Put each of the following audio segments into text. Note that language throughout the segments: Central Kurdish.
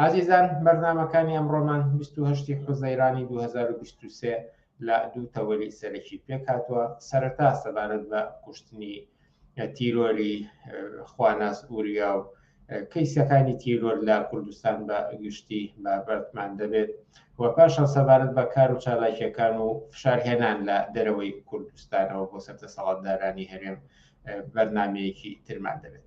ئازیزان بەرنامەکانی ئەمڕۆمان 28 حوزەیرانی 2023 لە دوو تەوەری سەرەکی پێکاتوە سەرەتا سەبارەت بە کوشتنی تیرۆری خواناس ئوریا و کەیسەکانی تیرۆر لە کوردستان بە گشتی بە بەردمان دەبێت و پاشان سەبارەت بە کار و چالاکیەکان و فشارهێنان لە دەرەوەی کوردستانەوە بۆ سەر دەسەڵاتدارانی هەرێم بەرنمەیەکی ترمان دەبێت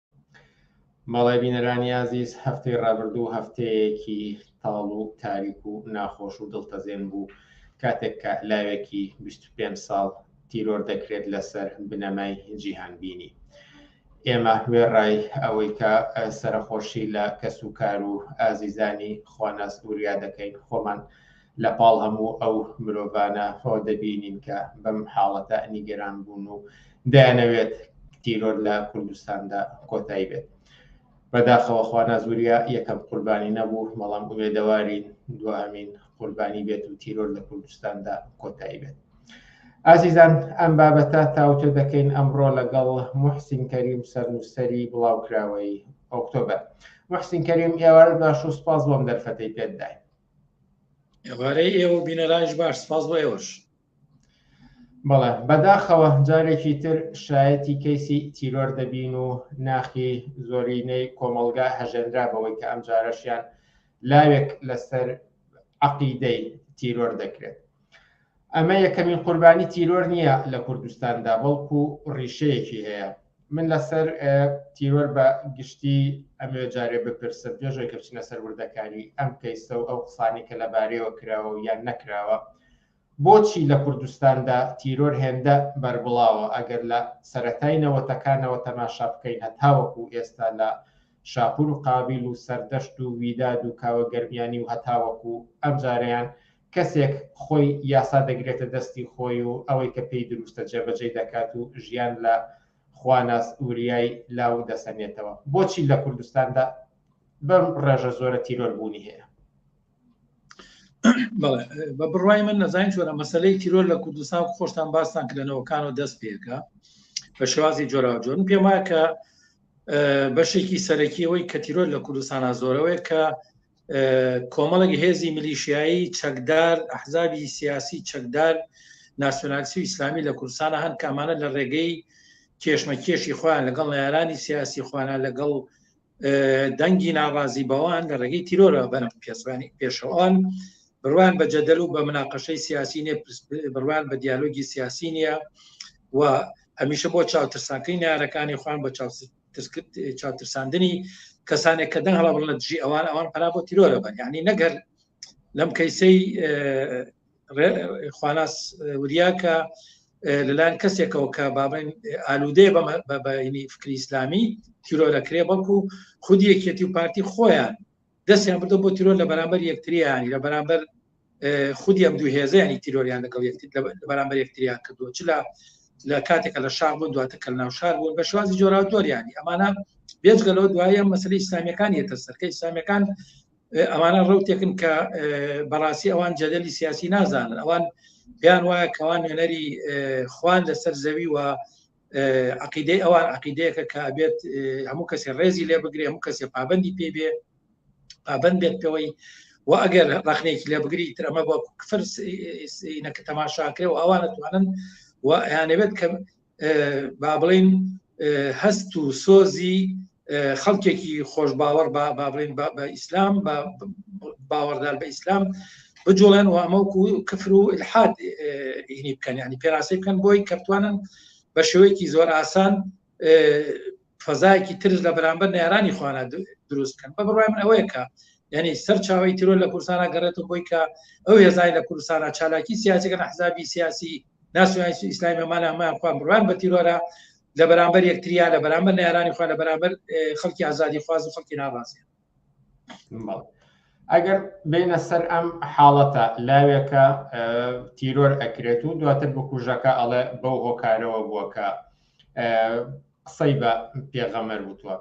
بەڵێ بینەرانی ئازیز هەفتەی ڕابردوو هەفتەیەکی تاڵ و تاریک و ناخۆش و دڵتەزێن بوو کاتێک کە لاوێکی 25 ساڵ تیرۆر دەکرێت لەسەر بنەمای جیهان بینی ئێمە وێڕای ئەوەی کە سەرخۆشی لە کەس و کار و ئازیزانی خواناس وریا دەکەین خۆمان لە پاڵ هەموو ئەو مرۆڤانە خۆ دەبینین کە بەم حاڵەتە نیگەران بوون و دەیانەوێت تیرۆر لە کوردستاندا کۆتایی بێت. بەداخەوە خوانازوریا یەکەم قوربانی نەبوو، بەڵام ئومێدەوارین دوهەمین قوربانی بێت و تیرۆر لە کوردستاندا کۆتایی بێت. ئازیزان ئەم بابەتە تاوتۆ دەکەین ئەمڕۆ لەگەڵ محسین کەریم سەرنووسەری بڵاوکراوەی ئۆکتۆبەر. محسین کەریم ئێوارە باش و سپاس بۆم دەرفەتەی پێتداین. ئێوارەی ئێوە بینەرایش باش سپاس بۆ ئێوەش بەڵێ بەداخەوە جارێکی تر شایەتی کەیسی تیرۆر دەبین و ناخی زۆرینەی کۆمەلگا هەژێنرا بەوەی کە ئەم جارەشیان لاوێک لەسەر عقیدەی تیرۆر دەکرێت ئەمە یەکەمین قوربانی تیرۆر نییە لە کوردستاندا، بەڵکو ڕیشەیەکی هەیە. من لەسەر تیرۆر بە گشتی ئەمەوێت جارێ بپرسم پێش ئەوەی کە بچینە سەر وردەکاری ئەم کەیسە و ئەو قسانەی کە لەبارەیەوە کراوە و یان نەکراوە، بۆچی لە کوردستاندا تیرۆر هێندە بەربڵاوە؟ ئەگەر لە سەرەتای نەوەتەکانەوە تەماشا بکەین هەتاوەکو ئێستا لە شاپور و قابیل و سەردەشت و ویداد و کاوە گەرمیانی و هەتاوەکو ئەمجارەیان کەسێک خۆی یاسا دەگرێتە دەستی خۆی و ئەوەی کە پێی دروستە جێبەجێی دەکات و ژیان لە خواناس وریای لاو دەسەنێتەوە. بۆچی لە کوردستاندا بەم ڕێژە زۆرە تیرۆر بوونی هەیە؟ بە بڕای من نەزانین چۆرە مەسلەی تیرۆر لە کوردستان خۆشتان باستان کرێنەوەکان و دەست پێکە بە شێوازی جۆراوجۆن پێم وایە کە بەشێکی سەرەکیەوەی کە تیرۆر لە کوردستانە زۆرەوەی کە کۆمەڵێک هێزی ملیشایی چەکدار ئەحزابی سیاسی چەکدار ناسیۆنالسی و ئیسلامی لە کوردستانە هەن کامانە لە ڕێگەی کێشمە کێشی خۆیان لەگەڵ نارانی سیاسی خوانە لەگەڵ دەنگی ناڕازی بەوان لە ڕێگەی تیرۆرە بەرم پێزانی پێشەوان بڕوان بە جەدەل و بە مناقەشەی سیاسی نیە بڕوان بە دیالۆگی سیاسی نییە و هەمیشە بۆ چاوترساکەی نارەکانی خوان بە چاوترساندنی کەسانێک کە دەنگ هەڵبڵ لە دژی ئەوان ئەوان پرا بۆ تیرۆرە بەن یعنی نەگەر لەم کەیسەی خواناس وریاکە لەلایەن کەسێکەوە کە بابن ئالوودێ بەینی فکری ئیسلامی تیرۆرەکرێ بەڵکو خودی یەکێتی و پارتی خۆیان دەستیان بردە بۆ تیرۆر لە بەرامبەر یەکتریانی لە بەرامبەر خودی ئەم دوو هێزیانی تیرۆریان لەگەڵ یەکتر لە بەرامبەر یەکتریان کردووە چ لە لە کاتێکە لە شار بوون دواتە کە ناو شار بوون بە شوازی جۆرا دۆریانی ئەمانە بێجگەلەوە دوایە مەسلی ئیسلامیەکان یەتە سەرکە ئیسلامیەکان ئەوانە ڕوتێکن کە بەڕاستی ئەوان جەدەلی سیاسی نازانن ئەوان بیان وایە کەوان نوێنەری خوان لەسەر زەوی و عقیدەی ئەوان عقیدەیەکە کە بێت هەموو کەسێ ڕێزی لێ بگرێ هەموو کەسێ پابندی پێ بێ پابند بێت پێوەی و ئەگەر ڕخنێکی لێ بگری ترەمە بۆ کفر نەکە تەماشاکرێ و ئەوانە توانن و یانەوێت کە با بڵین هەست و سۆزی خەڵکێکی خۆش باوەڕ بە بابلین بە ئیسلام بە باوەڕدار بە ئیسلام بجوڵێن و ئەمەکو کفر و الحاد هینی بکەن ینی پێراسی بکەن بۆی کەتوانن بە شێوەیەکی زۆر ئاسان فەزایەکی ترش لە بەرامبەر نێرانی خوانە دروست بکەن بە بڕای من ئەوەیە کە یعنی سەر چاوی تیرۆر لە کوردستانە گەڕێت و بۆی کە ئەو هێزای لە کوردستانە چالاکی سیاسەکە نەحزابی سیاسی ناسیۆنالیستی ئیسلامی بەمانە هەمان خۆیان بڕوان بە تیرۆرە لە بەرامبەر یەکتریا لە بەرامبەر نارانی خۆ لە بەرامبەر خەڵکی ئازادی خواز و خەڵکی ناڕازی ئەگەر بینە سەر ئەم حاڵەتە لاوێکە تیرۆر ئەکرێت و دواتر بکوژەکە ئەڵێ بەو هۆکارەوە بووەکە قسەی بە پێغەمەر وتوە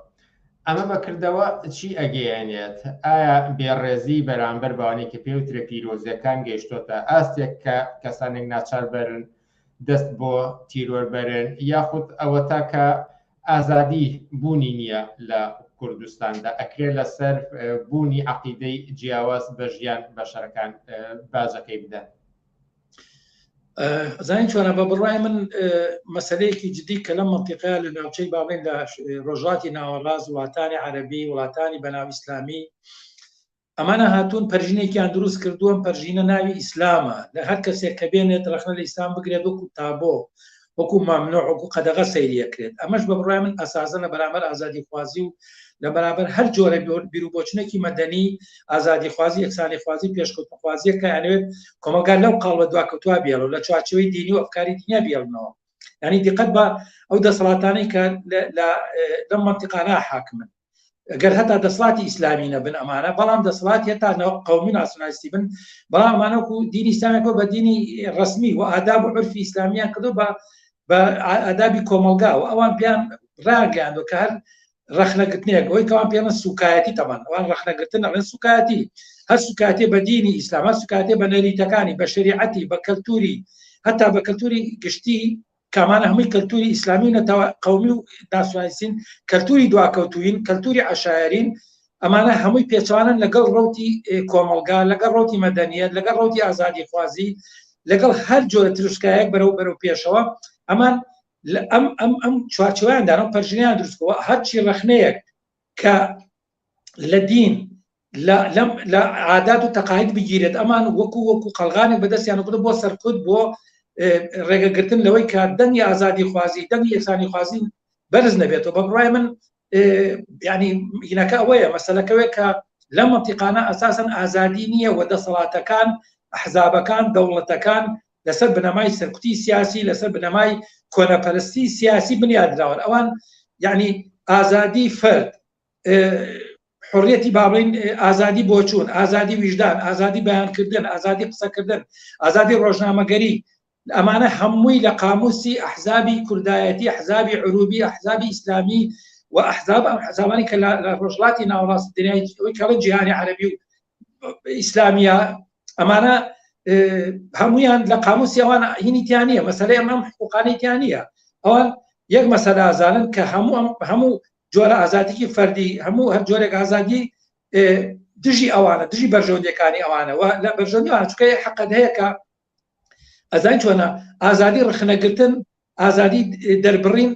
ئەمە بەکردەوە چی ئەگەیەنێت ئایا بێڕێزی بەرامبەر بەوانەی کە پێوترە پیرۆزیەکان گەیشتۆتە ئاستێک کە کەسانێک ناچار بەرن دەست بۆ تیرۆر بەرن یاخود ئەوە تاکە ئازادی بوونی نییە لە کوردستاندا ئەکرێ لەسەر بوونی عقیدەی جیاواز بە ژیان بەشەرەکان باجەکەی بدەن زانین چۆنە بە بڕای من مەسلەیەکی جدی کە لەم منتیقەیە لە ناوچەی باڵێن لە ڕۆژاتی ناوەڕاز وڵاتانی عەربی وڵاتانی بەناو ئیسلامی ئەمانە هاتوون پەرژینێکیان دروست کردووە پەرژینە ناوی ئیسلامە لە هەر کەسێک کە بێنێت ڕخنە لە ئیسلام بگرێت وەکو تابۆ وەکو مەمنوع وەکو قەدەغە سەیری ئەکرێت ئەمەش بە بڕای من ئەساسە لە بەرامبەر ئازادی خوازی و لە بەرامبەر هەر جۆرە بیروبۆچونێکی مەدەنی ئازادی خوازی یەکسانی خوازی پێشکەوتنخوازیە کە ئەنوێت کۆمەگار لەو قاڵ بە دواکەوتوا بێڵ و لە چوارچەوەی دینی و ئەفکاری دنیا بێڵنەوە ینی دقەت بە ئەو دەسەڵاتانی کە لە لەم منتیقانە حاکمن گەر هەتا دەسڵاتی ئیسلامی نەبن ئەمانە بەڵام دەسڵات هێتا قومی ناسیۆنالیستی بن بەڵام ئەمانەکو دینی ئیسلامیەکە بە دینی ڕسمی و ئاداب و عرفی ئیسلامیان کردو بە بە ئادابی کۆمەلگا و ئەوان پێیان ڕاگەیاندو کە هەر ڕخنەگرتنێک ئەوی کەوان پێمە سوکایەتی تەمان ئەوان ڕخنەگرتن ئەڵێن سوکایەتی هەر سوکاتێ بە دینی ئیسلام هەر سوکاتێ بە نەریتەکانی بە شریعەتی بە کەلتوری هەتا بە کەلتوری گشتی کامانە هەمووی کەلتوری ئیسلامی و نەتەوە قومی و ناسیونالیستین کەلتوری دواکەوتوین کەلتوری عشایرین ئەمانە هەمووی پێچوانن لەگەڵ ڕوتی کۆمەلگا لەگەڵ ڕوتی مەدەنیت لەگەڵ ڕوتی ئازادی خوازی لەگەڵ هەر جۆرە تروسکایەک بەرەو بەرەو پێشەوە ئەمان ئەم ئەم ئەم چوارچویاندانم پەرژنیان دروستکەوە هەرچی ڕخنەیەک کە لە دین لە عادات و تەقاید بگیرێت ئەمان وەکو وەکو قەلغانێک بەدەستیانکرد بۆ سەرکوت بۆ ڕێگەگرتن لەوەی کە دەنگی ئازادی خوازی دەنگی یەکسانی خوازی بەرز نەبێتەوە بە بڕای من ینی هینەکە ئەوەیە مەسلەکەوێت کە لە مەتیقانە ئەساسن ئازادی نییە و دەسەڵاتەکان حزابەکان دەوڵەتەکان لەسەر بنەمای سەرکوتی سیاسی لەسەر بنەمای کۆنەپەرستی سیاسی بنیادراون ئەوان یعنی ئازادی فرد حڕیەتی باڵین ئازادی بۆچوون ئازادی ویژدان ئازادی بەیانکردن ئازادی قسەکردن ئازادی ڕۆژنامەگەری ئەمانە هەمووی لە قاموسی ئەحزابی کوردایەتی حزابی عروبی ئەحزابی ئیسلامی و ئەحزاب ئەم حزابانی کە لە ڕۆژڵاتی ناوەڕاست دنیای جیهانی عربی و ئیسلامیە ئەمانە هەمویان لە قاموسی ئەوان هینیتیانە مەسلەی ئەم حقوقانیتیانە ئەوان یەک مەسەدازانن کە هەموو هەموو جۆرە ئازادیکی فەردی هەموو هەر جۆرێک ئازادی دژی ئەوانە دژی بەرژەوندەکانی ئەوانەوە لە بەرژەوندیوان چکەی حەقەت هەیە کە ئەزای چۆنە ئازادی ڕخنەگرتن ئازادی دەربڕین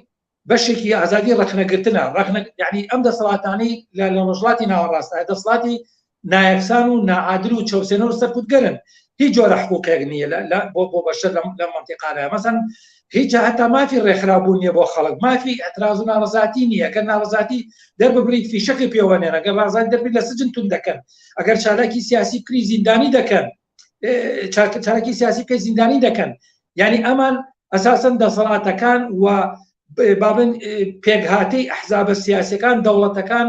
بەشێکی ئازادی ڕخنەگرتنە ڕخنە یعنی ئەم دەسەڵاتانی لە لە ڕژڵاتی ناوەڕاستە دەسڵاتی نایەکسان و ناعادل و چەوسێنەر و سەرکوتگەرن هیچ جۆرە حقوقێک نییە لە بۆ بۆ بەشەر لە مەنتیقادا مەسەن هیچ هەتا مافی ڕێکخراوبوون نیە بۆ خەڵک مافی ئەتراز و ناڕزاتی نییە گەر ناڕزاتی دەرببریت فیشەقی پێوەنێن ئەگەر ڕازان دەبی لە سجن تون دەکەن ئەگەر چالاکی سیاسی کری زیندانی دەکەن چاکەچارکی سیاسی کە زیندانی دەکەن یعنی ئەمان ئەساسن دەسەڵاتەکان و بابن پێکهاتەی ئەحزابە سیاسەکان دەوڵەتەکان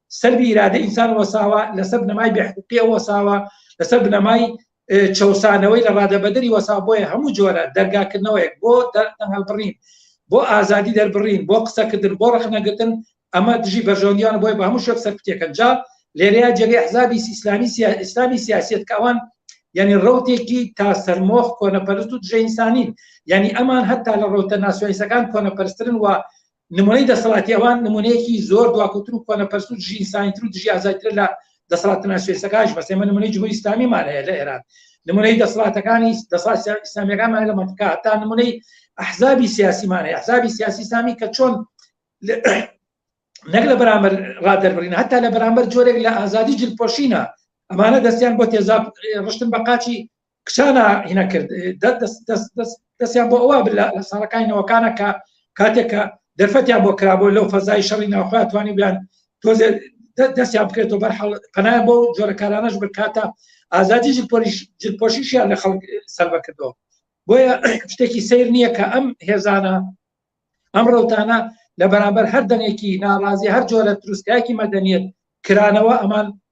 سەلبی ئیرادەی ئینسان وەساوە، لەسەر بنەمای بێحقووقییەوە وەساوە، لەسەر بنەمای چەوسانەوەی لە ڕادەبەدەری وەساوە، بۆیە هەموو جۆرە دەرگاکردنەوەیەک بۆ دەنگهەڵبڕین، بۆ ئازادی دەربڕین، بۆ قسەکردن، بۆ ڕەخنەگرتن، ئەمە دژی بەرژەوەندییانە، بۆیە بە هەموو شێوەیەک سەرکوتییەکەن. جا لێرەیا جێگەی ئەحزابی ئیسلامیی سیاسییەت کە ئەوان یانی ڕەوتێکی تا سەرمۆخ کۆنەپەرست و دژەئینسانین، یانی ئەمان هەتا لە ڕەوتە ناسیۆنالیستەکان کۆنەپەرستترن و نمونەی دەسەڵاتی ئەوان نمونەیەکی زۆر دواکوتر و کۆنەپەرست و دژی ئینسانیتر و دژی ئازادیترە لە دەسەڵاتە ناشرێسەکانیش بەس ئێمە نمونەی جمهوری ئیسلامیمان هەیە لە ئێران نمونەی دەسەڵاتەکانی دەسەڵات ئیسلامیەکانمان لە مەنتکە هەتا نمونەی ئەحزابی سیاسیمان هەیە ئەحزابی سیاسی ئیسلامی کە چۆن نەک لە بەرامبەر ڕادەربڕین هەتا لە بەرامبەر جۆرێک لە ئازادی جلپۆشینە ئەمانە دەستیان بۆ تێزاب ڕشتن بە قاچی کچانە هینە کرد دەستیان بۆ ئەوە لە ساڵەکانی نەوەکانە کە کاتێکە دەرفەتیان بۆ کرابوو لەو فەزای شەڕی ناوخوای توانی بیان تۆزێ دەستیان بکرێتەوە بەر پەنای بۆ جۆرەکارانەش بکاتە ئازادی جلپۆشیشیان لە خەڵک سەربە کردەوە بۆیە شتێکی سیر نییە کە ئەم هێزانە ئەم ڕوتانە لە بەرامبەر هەر دەنێکی ناڕازی هەر جۆرە تروسکایەکی مەدەنیت کرانەوە ئەمان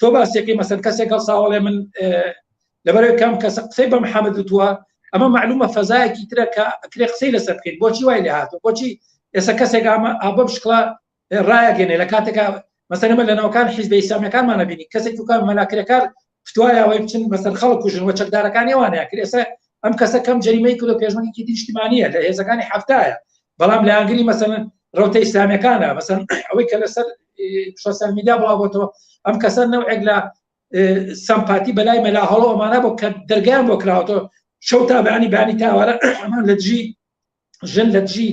تۆ باسێکی مەسەر کەسێک هەڵساوەڵێ من لەبەرەوەی کەم کەسە قسەی بە محەممەد وتووە ئەمە معلومە فەزایەکی ترە کە ئەکرێ قسەی لەسەر بکەیت بۆچی وای لە هاتو بۆچی ئێستا کەسێک ئامە ئابم شکڵە ڕایەگەێنێ لە کاتێکا مەسەرمە لە ناوکان حیزب ئیسلامیەکانمانە بینی کەسێک دوکان مەلاکرەکار فتوایەوەی بچن بەسەر خەڵک کوژن و چەکدارەکانی وانەیە کرد ئێستا ئەم کەسە کەم جریمەی کلۆ پێشمەکی دیشتیمانە لە هێزەکانی هەفتایە بەڵام لە ئەنگری مەسەن ڕوتە ئیسلامیەکانە مەسەن ئەوەی کە لەسەر سوسیال میدیا بڵاوبتەوە ئەم کەسە نەوەک لە سەمپاتی بەلای مەلا هەڵۆمانە بۆ کە دەرگیان بۆ کراوەوە شەو تا بەانی بانی تاوارە ئەمان لە دژی ژن لە دژی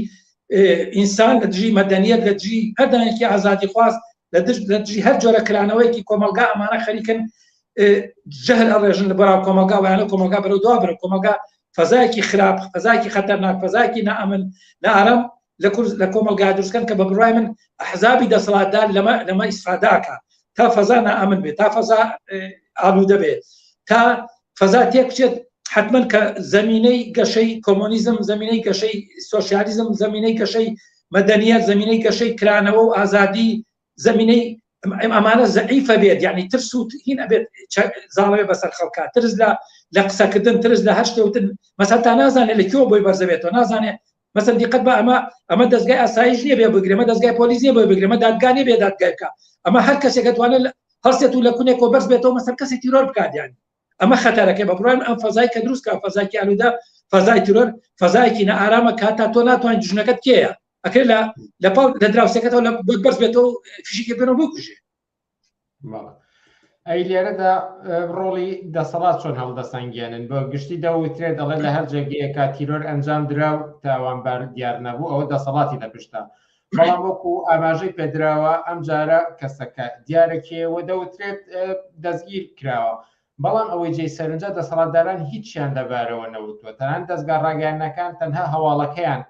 ئینسان لە دژی مەدەنیت لە دژی هەردانێکی ئازادی خواست لە دژ لە دژی هەر جۆرە کرانەوەیکی کۆمەلگا ئەمانە خەریکن جهل ئەڕێژن لە بەراو کۆمەلگا وایانە کۆمەلگا بەرەو دوا بەرە کۆمەلگا فەزایەکی خراپ فەزایکی خەتەرناک فەزایکی نامن نارم لە کورد لە کۆمەڵگا دروستکەن کە بە بڕای من ئەحزابی دەسەڵاتدار لەمە لەمە ئیسفاداکە تا فەزا نائەمن بێت تا فەزا ئالوودە بێت تا فەزا تێکچێت حتمما کە زمینەی گەشەی کۆمۆنیزم زمینەی گەشەی سوسیالیزم زمینەی گەشەی مەدەنیە زمینەی گەشەی کرانەوە و ئازادی زەمینەی ئەمانە زەعیفە بێت یعنی ترس و هین ئەبێت زاڵێ بەسەر خەڵکە ترس لە لە قسەکردن ترس لە هەر شتێوتن مەسە تا نازانێت لە کێوە بۆی بەرزەبێتەوە نازانێت مەسەر دیقەت بە ئەمە ئەمە دەستگای ئاسایش نیە بێ بگرێمە دەستگای پۆلیس نیە بۆ بگرێمە دادگانێ بێ دادگایکە ئەمە هەر کەسێکەتوانێت هەستێت و لە کونێکەوە بەرز بێتەوە مەسەر کەسی تیرۆر بکاتیان ئەمە خەتەرەکەی بە بڕوای من ئەم فەزای کە دروست کە فەزاکی ئالوودە فەزای ترۆر فەزایەکی نە ئارامە کە تا تۆ ناتوانین دژنەکەت کێیە ئەکرێت لە لە پاڵ لە دراوسەکەتەوە لە بۆت بەرز بێتەوە و فشیکە بێنەوە بکوژێ بەڵێ. ئەی لێرەدا ئە، ڕۆڵی دەسەڵات چۆن هەڵدەسەنگێنن بۆ گشتی دەوترێ دەڵێ لە هەر جێگەیەکە تیرۆر ئەنجام درا و تاوانبار دیار نەبوو ئەوە دەسەڵاتی لە پشتە بەڵام وەکو ئاماژەی پێدراوە ئەم جارە کەسەکە دیارە کێیە و دەوترێت دەستگیر کراوە، بەڵام ئەوەی جێی سەرنجە دەسەڵاتداران هیچیان لەبارەوە نەوتووە، تەنانەت دەزگا ڕاگەیاندنەکان تەنها هەواڵەکەیان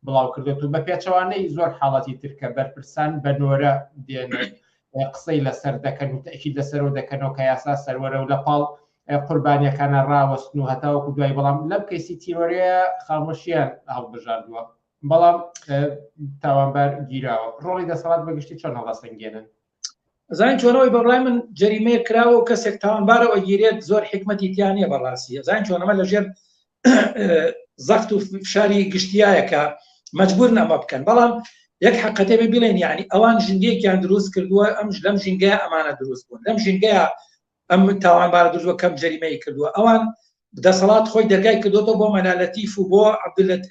بڵاوکردووەتەوە، بەپێچەوانەی زۆر حاڵەتی تر کە بەرپرسان بە نۆرە دێنن و قسەی لەسەر دەکەن و تەئکید لەسەرەوە دەکەنەوە کە یاسا سەروەرە و لەپاڵ قوربانیەکانە ڕاوەستن و هەتاوەکو دوایی، بەڵام لەم کەیسی تیرۆرەیە خامۆشییان هەڵبژاردووە. بەڵام تاوانبار گیراوە ڕۆڵی دەسەڵات بەگشتی چۆن هەڵاسەنگێنن زانین چۆنەوەی بەڕای من جەریمەیە کراوە و کەسێک تاوانبارە ئەگیرێت زۆر حکمەتی تیانە بەڕاستی زانین چۆنەمە لەژێر زەخت و فشاری گشتیایەکە مجبور نەمە بکەن بەڵام یەک حقەتێ بێ بڵێن یعنی ئەوان ژنگەیەکیان دروست کردووە ئەم لەم ژنگە ئەمانە دروست بوون لەم ژنگەیە ئەم تاوانبارە دزوە کەم جەریمەی کردووە ئەوان دەسەڵات خۆی دەرگای کردوەوە بۆ مەلا لەتیف و بۆ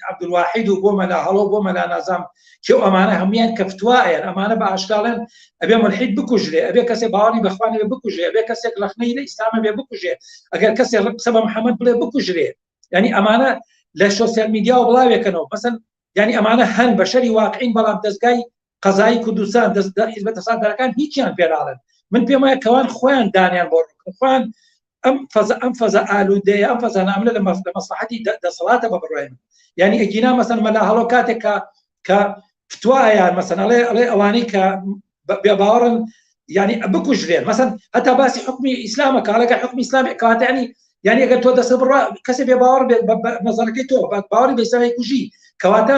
عبدالواحید و بۆ مەلا هەڵۆ بۆ مەلا نازام کێ ئەمانە هەمویان کەفتوایەن ئەمانە بە ئاشکاڵێن ئەبێ ملحید بکوژرێ ئەبێ کەسێ باوەڕی بەخوانێ بکوژێ بێ کەسێک لەخنەی لە ئیسلامە بێ بکوژێ ئەگەر کەسێ ڕق قسە بە محەممەد بڵێ بکوژرێ ینی ئەمانە لە سوسیال میدیا و بڵاوێکەنەوە مەسن ینی ئەمانە هەن بەشەری واقعین بەڵام دەستگای قەزایی کوردستان دەست دە حیزبە دەسەڵاتدارەکان هیچیان پێ ناڵێن من پێم وایە کەوان خۆیان دانیان بۆ ڕووکن خۆیان ئەم فەزا ئەم فەزا ئالوودەیە ئەم فەزا ناملە لە مەف- لە مەسلحەتی دە- دەسەڵاتە بە بڕای من یعنی ئەگینا مەسەن مەلا هەڵۆ کاتێک کە کە فتوایان مەسەن ئەڵێ ئەڵێ ئەوانەی کە بە- بێ باوەڕن یعنی بکوژرێن مەسەن هەتا باسی حکومی ئیسلامە کاڵەکە حکومی ئیسلامی کاتە ینی یعنی ئەگەر تۆ دەسە بڕا کەسێ بێ باوەڕ بێت بە- بە نەزەرەکەی تۆ بە باوەڕی بە ئیسلامی کوژی کەواتە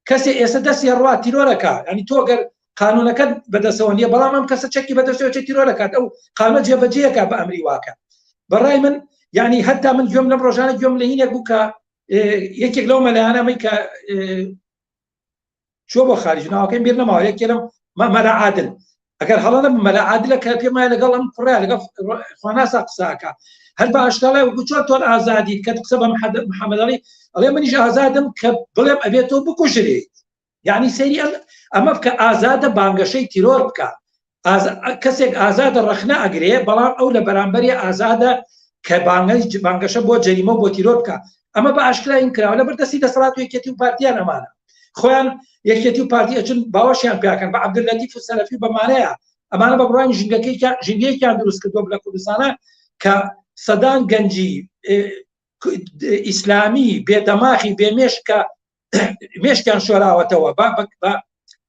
کەسێ ئێسە دەستی هەڕوا تیرۆرەکە ئەنی تۆ گەر قانونەکەت بەدەسەوە نیە بەڵام ئەم کەسە چەکی بەدەسەوە چێ تیرۆرەکات ئەو قانە جێبەجێەکە بە ئەمری واکە بەڕای من یعنی هەتا من گوێم لەم ڕۆژانە گوێم لە هینێک بوو کە یەکێک لەو مەلایانەمەی کە چۆ بۆ خارج ناوەکەی بیر نەماوە یەکێ لەم مەمەرە عادل ئەگەر هەڵە نەبم مەلا عادلە کە پێم وایە لەگەڵ ئەم کوڕە لەگەڵ خواناسا قسە ئەکا هەر بە ئاشکالای وەکو چۆن تۆن ئازادیت کە قسە بە محەد- محەممەد علی ئەڵێ منیش ئازادم کە بڵێم ئەبێت تۆ بکوژرێیت یعنی سەیری ئەم ئەمە بکە ئازادە بانگەشەی تیرۆر بکە ئاز- کەسێک ئازادە ڕەخنە ئەگرێ بەڵام ئەو لە بەرامبەری ئازادە کە بانگەی بانگەشە بۆ جەریمە و بۆ تیرۆر بکە ئەمە بە ئاشکراین کراوە لە بەردەستی دەسەڵات یەکێتی و پارتیان ئەمانە خۆیان یەکێتی و پارتی ئەچون باوەشیان پیاکەن بە عبدلەتی و سەلەفی بەمانەیە ئەمانە بە بڕانی ژنگەکەی ژنگەیەکیان دروست کردو لە کوردستانە کە سەدان گەنجی ئیسلامی بێدەماخی بێمێش کە مێشکیان شۆراوەتەوە با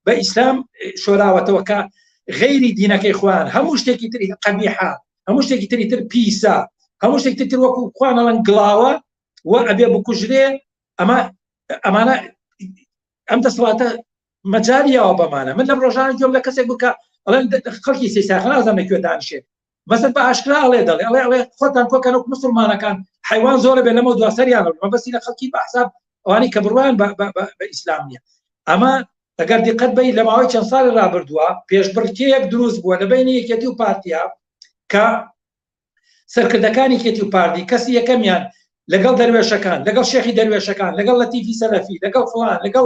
بە ئیسلام شۆراوەتەوە کە غەیری دینەکەی خوان هەموو شتێکی تری قەبیحا هەموو شتێکی تری تر پیسە هەموو شتێکی تر وەکو خوانەڵەن گڵاوە و ئەبێ بکوژرێ ئەمە ئەمانە ئەم دەسڵاتە مەجاریەوە بەمانە من لەم ڕۆژان گوێم لە کەسێک بکە ئەڵێن خەڵکی سیساخنازان نەکوێ دانشێت بەسەر بە ئاشکرا ئەڵێ دەڵێ ئەڵێ ئەڵێ خۆتان کۆکەن و مسلمانەکان حیوان زۆرە بێ لەمە دواسەریان مەبەستی لە خەڵکی بەحساب ئەوانی کە بڕوان بە ئیسلام نیە ئەمە ئەگەر دیقەت بی لە ماوەی چەند ساڵی رابردووە پێشبڕکێیەک دروست بووە لە بینی یەکێتی و پارتیا کە سەرکردەکانی کێتی و پارتی کەسی یەکەمیان لەگەڵ دەروێشەکان لەگەڵ شێخی دەروێشەکان لەگەڵ لە تیفی سەلەفی لەگەڵ فلان لەگەڵ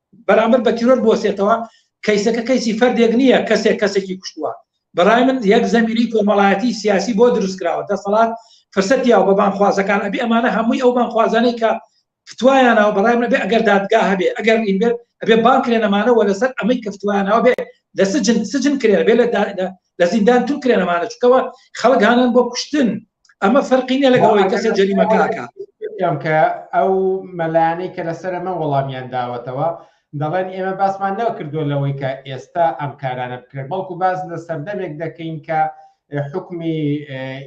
بەرامبەر بە تیرۆر بوەستێتەوە، کەیسەکە کەیسی فەردێک نییە کەسێک کەسێکی کوشتووە، بەڕای من یەک زەمیری کۆمەڵایەتی سیاسی بۆ دروستکراوە، دەسەڵات فرسەت یاوە بە بانگخوازەکان، ئەبێ ئەمانە هەمووی ئەو بانگخوازانەی کە فتوایاناوە بەڕای من ئەبێ ئەگەر دادگا هەبێ ئەگەر نین بێت ئەبێ بانگ کرێن ئەمانە وە لەسەر ئەمەی کە فتوایاناوە بێ لە سجن سجن کرێن بێ لە لە زیندان تور کرێن ئەمانە چکەوە خەڵک هانان بۆ کوشتن ئەمە فەرقی نیە لەگەڵەوەی کەسە جەریمەکەکە کە ئەو مەلانەی کە لەسەر ئەمە وەڵامیان داوەتەوە دەڵێن ئێمە باسمان نەوە کردووە لەوەی کە ئێستا ئەم کارانە بکرێت بەڵکو باز لە سەردەمێک دەکەین کە حکمی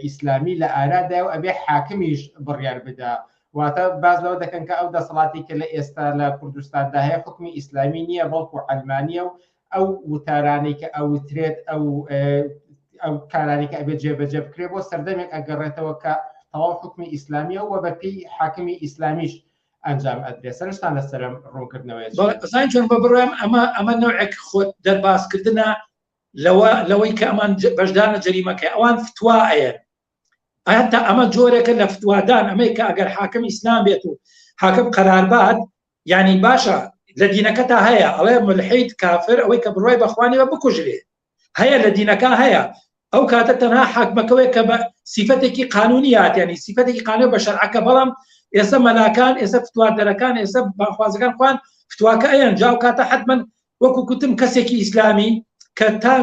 ئیسلامی لە ئارادا و ئەبێ حاکمیش بڕیار بدا واتە باز لەوە دەکەن کە ئەو دەسەڵاتی کە لە ئێستا لە کوردستاندا هەیە حکمی ئیسلامی نییە بەڵکو ئەلمانیا و ئەو وتارانەی کە ئەوترێت ئەو ئەو کارانی کە ئەبێت جێبەجێ بکرێ بۆ سەردەمێک ئەگەڕێتەوە کە تەواو حکومی ئیسلامیە و بەپی حاکمی ئیسلامیش ئەنجام ئەدرێ سەرشتان لەسرم ڕوونکردنەوەی زان چۆن بە بڕێم ئەمە ئەمە نوعێک خۆت دەربازکردە لەوە لەوەی کە ئەمان بەشدانە جەریمەکە ئەوان فتووا ئەیە ئاتا ئەمە جۆرێکە لە فتوادان ئەمەی کە ئەگەر حاکم ئیسلام بێت و حاکم قەراربات یانی باشە لە دینەکەتا هەیە ئەڵێ ملحید کافر ئەوەی کە بڕوای بەخوا نیە بکوژرێ هەیە لە دینەکە هەیە ئەو کاتە تەنها حاکمەکەوەی کە بە سیفەتێکی قانونی هاتیانی سیفەتێکی قانون بە شەرعەکە بەڵام ئێستا مەلاکان ئێستا فتواردەرەکان ئێستا باخوازەکان خوان فتواکە ئەیان جاو کاتە حتمما وەکو کوتم کەسێکی ئیسلامی کە تا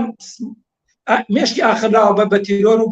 مێشکی ئاخراوە بە بە تیرۆر و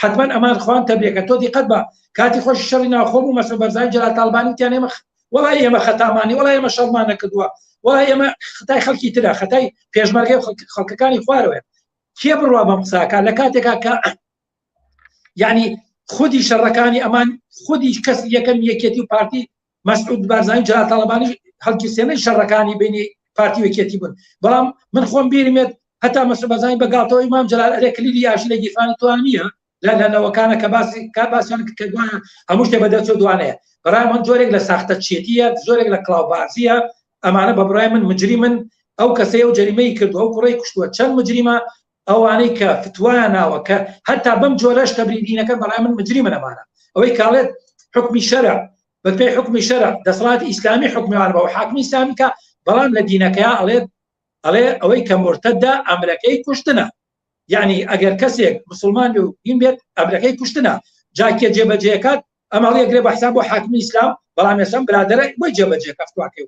حەتمەن ئەمان خوان تەبێکە تۆ دیقەت بە کاتی خۆش شەڕی ناوخۆم و مەسرور بەرزانی جەلال تاڵبانی وتیان ئێمە وەڵای ئێمە خەتامانی وەڵای ئێمە شەڕمان نەکردووە وەڵای ئێمە خەتای خەڵکی ترە خەتای پێشمەرگەی خەڵکەکانی خوارەوەێ کێ بڕوا بەم قساکە لە کاتێکا کە یعنی خودی شەڕەکانی ئەمان خودی کەس یەکەم یەکێتی و پارتی مەسعود بارزانی جەلال تاڵەبانی خەڵکی سێنەی شەڕەکانی بینی پارتی وەکێتی بوون بەڵام من خۆم بیرمێت هەتا مەسعود بارزانی بە گاڵتەوەی مام جەلال ئەرێ کلیلی یاشی لە گیرفانی توان نییە لە لەنەوەکانە کە باسی کا باسیان کە دوانە هەموو شتێ بە دەرچوو دوانەیە بەڕای من جۆرێک لە ساختە چێتیە زۆرێک لە کلااوبازیە ئەمانە بە بڕای من مجری من ئەو کەسەیە و جەریمەی کردو ئەو کوڕی کوشتووە چەند مجریمە ئەوانەی کە فتوایان ناوە کە هەتا بەم جۆرەش تەبری دینەکە بەڕای من مجریمن ئەمانە ئەوەی کاڵێت حکمی شەرع بەپێی حکمی شەرع دەسەڵاتی ئیسلامی حکمیان بەوە حاکمی ئیسلامی کە بەڵام لە دینەکەیا ئەڵێت ئەڵێ ئەوەی کە مرتددا ئەمرەکەی کوشتنە یعنی ئەگەر کەسێک مسلمان و این بێت ئەمرەکەی کوشتنە جاکێ جێبەجێکات ئەمە یەکرێ بە حساب بۆ حاکمی ئیسلام بەڵام ێسم برادرە بۆی جێبەجێ کەفتواکەی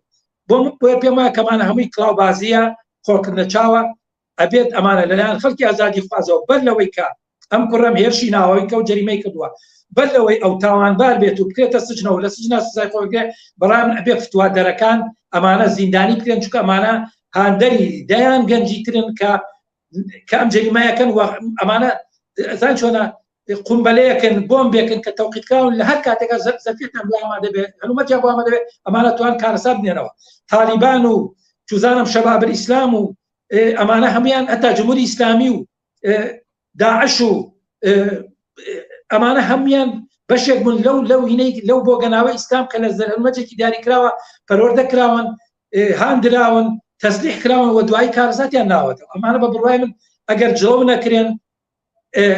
بۆ بۆ پێما کەمانە هەمووی کلااوبازیە خۆکردە چاوە ئەبێت ئەمانە لەلایەن خەڵکی ئازادیخوازەوە بەر لەوەی کە ئەم کوڕم هێرشی ناوەوەی کە و جەریمەی کردووە بەر لەوەی ئەو تاوانبار بێت و بکرێتە سجنەوە لە سجنا سزای خۆگرێ بەڵام ئەبێ فتووا دەرەکان ئەمانە زیندانی بکرێن چکە ئەمانە هاندەری دەیان گەنجی ترن کە کە ئەم جەریمایەکەن و ئەمانە زان چۆنە قومبەلەیەکن بۆم بێکن کە تەوقیتکراون لە هەر کاتێکە زەفیتان بۆ ئەما دەبێت هەلومەتیان بۆ ئەمە دەبێت ئەمانە توان کارەسات بنێنەوە تالیبان و چزانم شەبابر ئیسلام و ئەمانە هەمویان هەتا جمهوری ئیسلامی و داعش و ئەمانە هەمویان بەشێک بوون لەو لەو هینەی لەو بۆ گەناوە ئیسلام کە لە زەرمەجێکی دیاریکراوە پەرۆردە کراون هاندراون تەسلیح کراون و دوای کارزاتیان ناوەتەوە ئەمانە بە بڕای من ئەگەر جۆ نەکرێن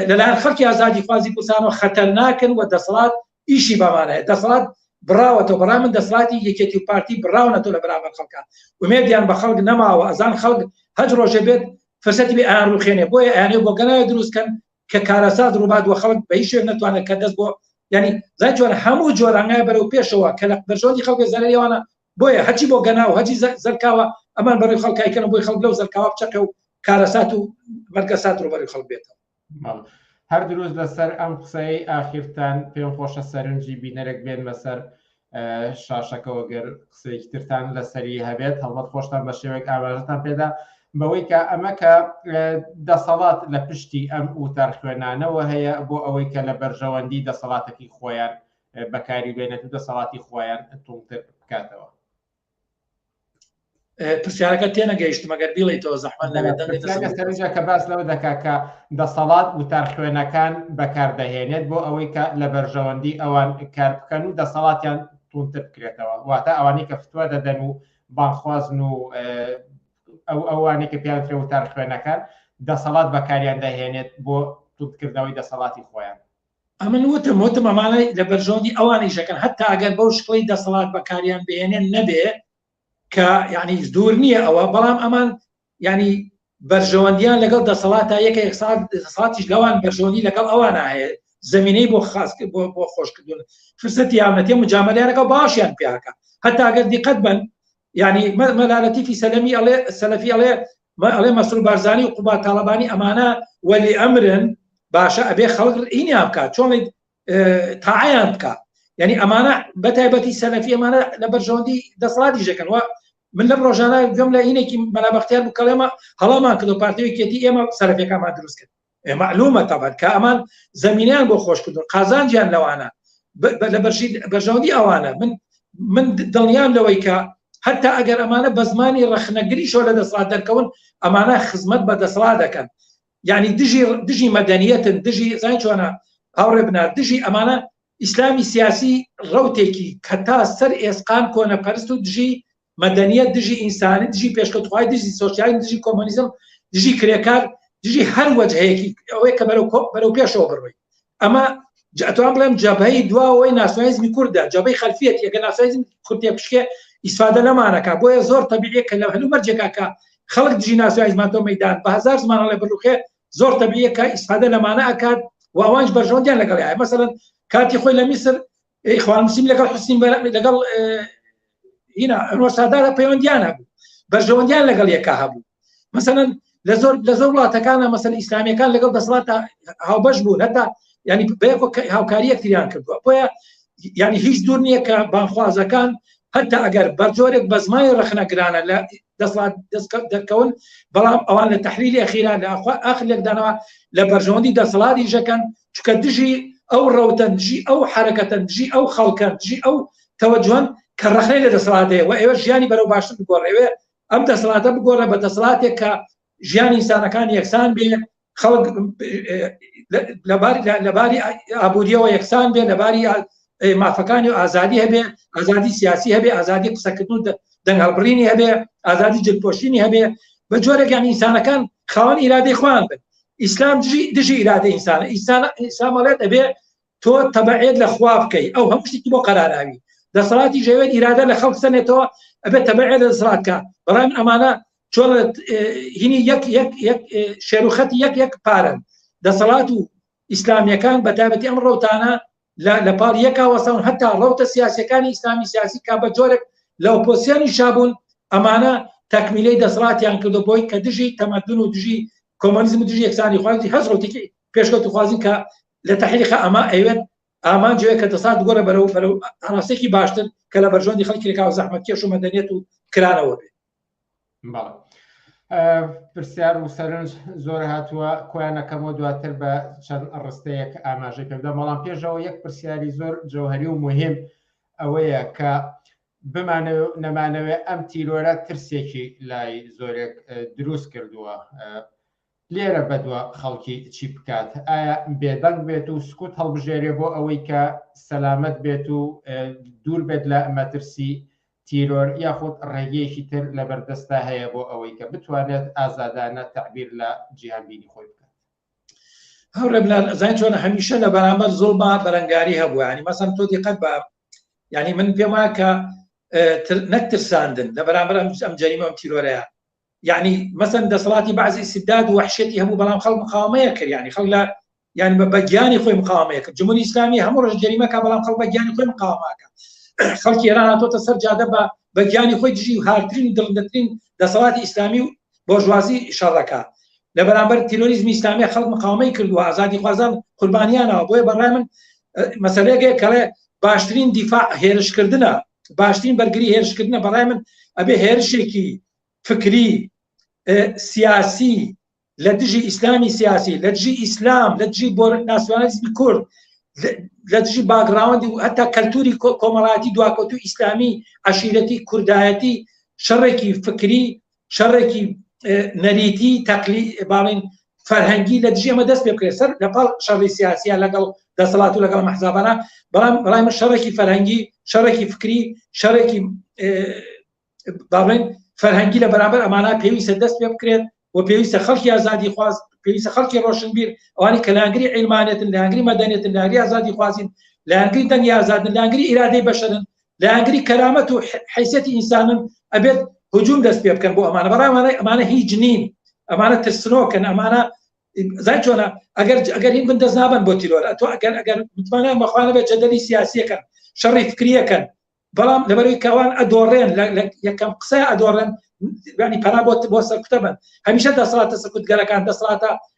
لەلایەن خەڵکی ئازادیخوازی کوردستانەوە خەتەرناکن و دەسەڵات ئیشی بەمانەیە دەسەڵات بڕاوەتەوە بەڕای من دەسەڵاتی یەکێتی و پارتی بڕاونەتەوە لە بەرامبەر خەڵکە ومێدیان بە خەڵک نەماوە ئەزان خەڵک هەج ڕۆژێ بێت فرسەتی بێ ئایان ڕوخێنێ بۆیە ئەیانێ بۆ گەنایە دروستکەن کە کارەسات ڕووبات وە خەڵک بە هیچ شوێن نتوانێت کە دەست بۆ ینی زای جۆر هەموو جۆرانگای بەرەو پێشەوە کە لە بەرژەوەندی خەڵک زانەوانە بۆیە هەرچی بۆ گەناو هەرچی زەلکاوە ئەمان بەڕوی خەڵک کایکەنەوە بۆی خەڵک لەو زەلکاوە بچەقێ و کارەسات و مەرگەسات ڕوبەروی خەڵک بێتەوە. هەر دروست لەسەر ئەم قسەی ئاخیرتان پێم خۆشە سەرنجی بینەرێک بێنمە سەر شاشەکەەوە گەر قسەیەکی ترتان لەسەری هەبێت هەڵبەت خۆشتان بە شێوەیەک ئاماژەتان پێدا بەوەی کە ئەمە کە دەسەڵات لە پشتی ئەم وتار خوێنانەوە هەیە بۆ ئەوەی کە لە بەرژەوەندی دەسەڵاتەکەی خۆیان بەکاری بێنێت و دەسەڵاتی خۆیان توڵتر بکاتەوە پرسیارەکە تێنەگەیشت مەگەر بیڵی تۆ زەحمە لەێتەجا کە باس لەوە دەکا کە دەسەڵات وتار خوێنەکان بەکاردەهێنێت بۆ ئەوەی کە لە بەرژەوەندی ئەوان کار بکەن و دەسەڵاتیان تونتر بکرێتەوە واتە ئەوانی کە فتووە دەدەن و بانخوازن و ئەو ئەوانی کە پیاوترێ وتار خوێنەکان دەسەڵات بەکاریان دەهێنێت بۆ توتکردنەوەی دەسەڵاتی خۆیان ئەمن وتم وتم ئەمانە لە بەرژەوەندی ئەوانیش ئەکەن هەتا ئەگەر بەو شکڵی دەسەڵات بەکاریان بهێنێن نەبێ کە یعنی دوور نییە ئەوە بەڵام ئەمان ینی بەرژەوەندیان لەگەڵ دەسەڵاتە یەکە ساتیش لەوان بەرژەوەندی لەگەڵ ئەوان هەیە زمینەی بۆ خاص بۆ بۆ خۆشکردن فرسەت یاونەتێ مجامەلیانەکە باشیان پیاکە هەتاگەر دیقەت بن ینی مەلالەتی فی سەلەمی ئەڵێ سەلەفی ئەڵێ من ئەڵێم مەسرور بارزانی و قوباد تاڵەبانی ئەمانە وەلی ئەمرن باشە ئەبێ خەڵک ئینیان بکات چۆن تاعیان بکات یعنی ئەمانە بەتایبەتی سەلەفی ئەمانە لە بەرژەوەندی دەسەڵاتی ژەکەن وە من لەم ڕۆژانە گوێم لە هینێکی مەلابختیار بکەڵێمە هەڵامان کردو پارتیوێکێتی ئێمە سەرەکەکانمان دروست کرد ئێ معلومە تەبەن کە ئەمان زمینیان بۆ خۆش کردن قازانجیان لەوانە لە بەرژی بەرژەوەندی ئەوانە من من دڵنیام لەوەی کە هەتا ئەگەر ئەمانە بە زمانی ڕەخنەگری شۆ لە دەسڵات دەرکەون ئەمانە خزمەت بە دەسڵات دەکەن یعنی دژی دژی مەدەنیەتن دژی زای چۆنە هاوڕێ بنار دژی ئەمانە ئیسلامی سیاسی ڕوتێکی کە تا سەر ئێسقان کۆنە پەرست و دژی مەدەنیەت دژی ئینسانی دژی پێشکەوتخوای دژی سۆسیالیزم دژی کۆمۆنیزم دژی کرێکار دژی هەر وەجهەیەکی ئەوەیە کە بەرەو کۆ بەرەو پێشەوە بڕۆی ئەمە جاتوان بڵێم جەبهەی دواەوەی ناسیۆنالیزمی کوردە جەبەی خەلفیەت یەکە ناسیۆنالیزم کوردێ پشکێ ئیسفادە لەمانەکە بۆیە زۆر تەبیعیە کە لە هەلو مەرجێکا کە خەڵک دژی ناسیۆنالیزمان تۆ مەدان بە هزار زمان هەڵێ بڕوخێ زۆر تەبیعیەکە ئیسفادە لەمانە ئەکات و ئەوانش بەرژەوەندیان لەگەڵ هەیە مەسەلەن کاتی خۆی لە میسر ئەی خوان مسیم لەگەڵ حسین لەگەڵ هینا ئەنوەر سادارە پەیوەندیان هەبوو بەرژەوەندیان لەگەڵ یەکا هەبوو مەسەن لە زۆر لە زۆر وڵاتەکانە مەسەن ئیسلامیەکان لەگەڵ دەسڵات هاوبەش بوو هەتا ینی هاوکاری یەکتریان کردووە بۆیە ینی هیچ دوور نییە کە بانخوازەکان هەتا ئەگەر بەرجۆرێک بەزمای ڕخنەگرانە لە دەسڵات دەستکەوت دەرکەون بەڵام ئەوان لە تحلیلی خیران لە ئەخوا ئەخ لێکدانەوە لە بەرژەوەندی دەسەڵاتی ژەکەن چکە دژی ئەو ڕەوتەن دژی ئەو حرەکەتەن دژی ئەو خەڵکەن دژی ئەو تەوەجوان کە ڕخنەی لە دەسەڵاتەیە و ئێوە ژیانی بەرەو باشتر بگۆڕێوێ ئەم دەسەڵاتە بگۆڕە بە دەسەڵاتێک کە ژیانی ئینسانەکان یەکسان بێ خەڵک لەباری ئابوووریەوە یەکسان بێ لەباری مافەکانی و ئازادی هەبێ ئازادی سیاسی هەبێ ئازادی قسەکردن دەنگ هەڵبڕینی هەبێ ئازادی جلپۆشینی هەبێ بە جۆرەگەیان ئینسانەکان خاوەن ئیرادەی خوان بن ئیسلام دژی ئیرادە ئینسانە ئیسانە ئیسامەڵێت ئەبێ تۆ تەبعێت لە خوا بکەی ئەو هەموو شتێکی بۆ قەراراوی دەسەڵاتی ژەوێت ئیرادە لە خەڵک سەنێتەوە ئەبێت تەبعێت لە دەسەڵاتکە بەڵام ئەمانە چۆن هینی یەک یەک یەک شێروخەتی یەک یەک پارن دەسەڵات و ئیسلامیەکان بەتابەتی ئەم ڕوتانە لە پاڵ یەکا وەسەون هەتا ڕوتە سیاسەکانی ئیسلامی سیاسی کا بە جۆرێک لە ئۆپۆسیانی شابوون ئەمانە تەکمیلەی دەسەڵاتیان کردو بۆی کە دژی تەمەدون و دژی کۆمەنیزم دژی یەکسانی خوازی هەز ڕوتێکی پێشکەوتخوازی کە لە تحریقە ئەما ئەوێت ئامانجەیە کە دەسات گۆرە بەرەو بەرەو ئاراستێکی باشتر کە لە بەرژۆندی خەڵکی لەکاو زەحمەت کێش و مەدەنیێت و کرانەوە بێت پرسیار و سەرنج زۆر هاتووە کۆیانەکەمەوە دواتر بە چەند ڕستەیەک ئاماژە کردە بەڵام پێشەوە یەک پرسیاری زۆر جەوهری و مهم ئەوەیە کە بمانە نەمانەوێت ئەم تیرۆرە ترسێکی لای زۆرێک دروست کردووە لێرە بەدوە خەڵکی چی بکات؟ ئایا بێدەنگ بێت و سکوت هەڵبژێرێ بۆ ئەوەی کە سەلامەت بێت و دوور بێت لە مەترسی تیرۆر یاخود ڕێگەیەکی تر لەبەردەستا هەیە بۆ ئەوەی کە بتوانێت ئازادانە تەعبیر لە جیهانبینی خۆی بکات؟ هەورەبلان ئەزای چۆن هەمیشە لە بەرامبەر زۆڵما بەرەنگاری هەبوو ینی مەسم تۆ دیقەت بە ینی من پێم وایە کە نەک ترساندن لە بەرامبەر ئەم جەریمە ئەم تیرۆرەیە یعنی مەسەن دەسەڵاتی بەعزی ئیستیبداد و وەحشێتی هەبوو بەڵام خەڵک مقاومەیە کرد یعنی خەڵک لە یعنی بە بەگیانی خۆی مقاومەیە کرد جمهوری ئیسلامی هەموو ڕۆژ جەریمەکە بەڵام خەڵک بەگیانی خۆی مقاومەکە خەڵکی ئێران هاتۆتە سەر جادە بە بەگیانی خۆی دژی و هارترین و دڵندەترین دەسەڵاتی ئیسلامی و بۆژوازی شەڕەکە لە بەرامبەر تیرۆریزمی ئیسلامی خەڵک مقاومەی کردووە ئازادی خوازان قوربانیانەوە بۆیە بەڕای من مەسەلەیەکێک کەڵێ باشترین دیفاع هێرشکردنە باشترین بەرگری هێرشکردنە بەڕای من ئەبێ هێرشێکی فکری سیاسی لە دژی ئیسلامی سیاسی لە دژی ئیسلام لە دژی بۆ ناسیۆنالیزمی کورد لە دژی باگراوندی و هەتا کەلتوری کۆمەڵاتی دواکەوتو ئیسلامی عشیرەتی کوردایەتی شەڕێکی فکری شەڕێکی نەریتی تەقلی باڵین فەرهەنگی لە دژێمە دەست پێ بکرێت سەر لەپاڵ شەڕی سیاسیە لەگەڵ دەسەڵات و لەگەڵ مەحزابانە بەڵام بەڵام شەڕێکی فەرهەنگی شەڕێکی فکری شەڕێکی باڵێن فەرهەنگی لە بەرامبەر ئەمانە پێویستە دەست پێ بکرێت و پێویستە خەڵکی ئازادی خواز پێویستە خەڵکی ڕۆشنبیر ئەوانی کەلانگری عیلمانێتن لانگری مەدەنێتن لاری ئازادی خوازین لانگری دەنگی ئازادن لانگری ئیرادەی بەشرن لایەنگری کەرامەت و حیسیەتی ئینسانن ئەبێت هجوم دەست پێ بکەن بۆ ئەمانە بەڕای وانە ئەمانە هیچ نین ئەمانە ترسنۆکن ئەمانە زای چۆنە ئەگەر ئەگەر هین بندەست نابن بۆ تیرۆر ئەتو ئەگەر ئەگەر متمانە مەخوانە بێت جەدەلی سیاسیەکەن شەڕی فکریەکەن بەڵام لەبەروی کەوان ئەدۆڕێن یەکەم قسە ئەدۆڕێن ینی پەنا بۆ بۆ سەرکوتە بن هەمیشە دەسەڵاتە سەکوتگەرەکان دەسەڵاتە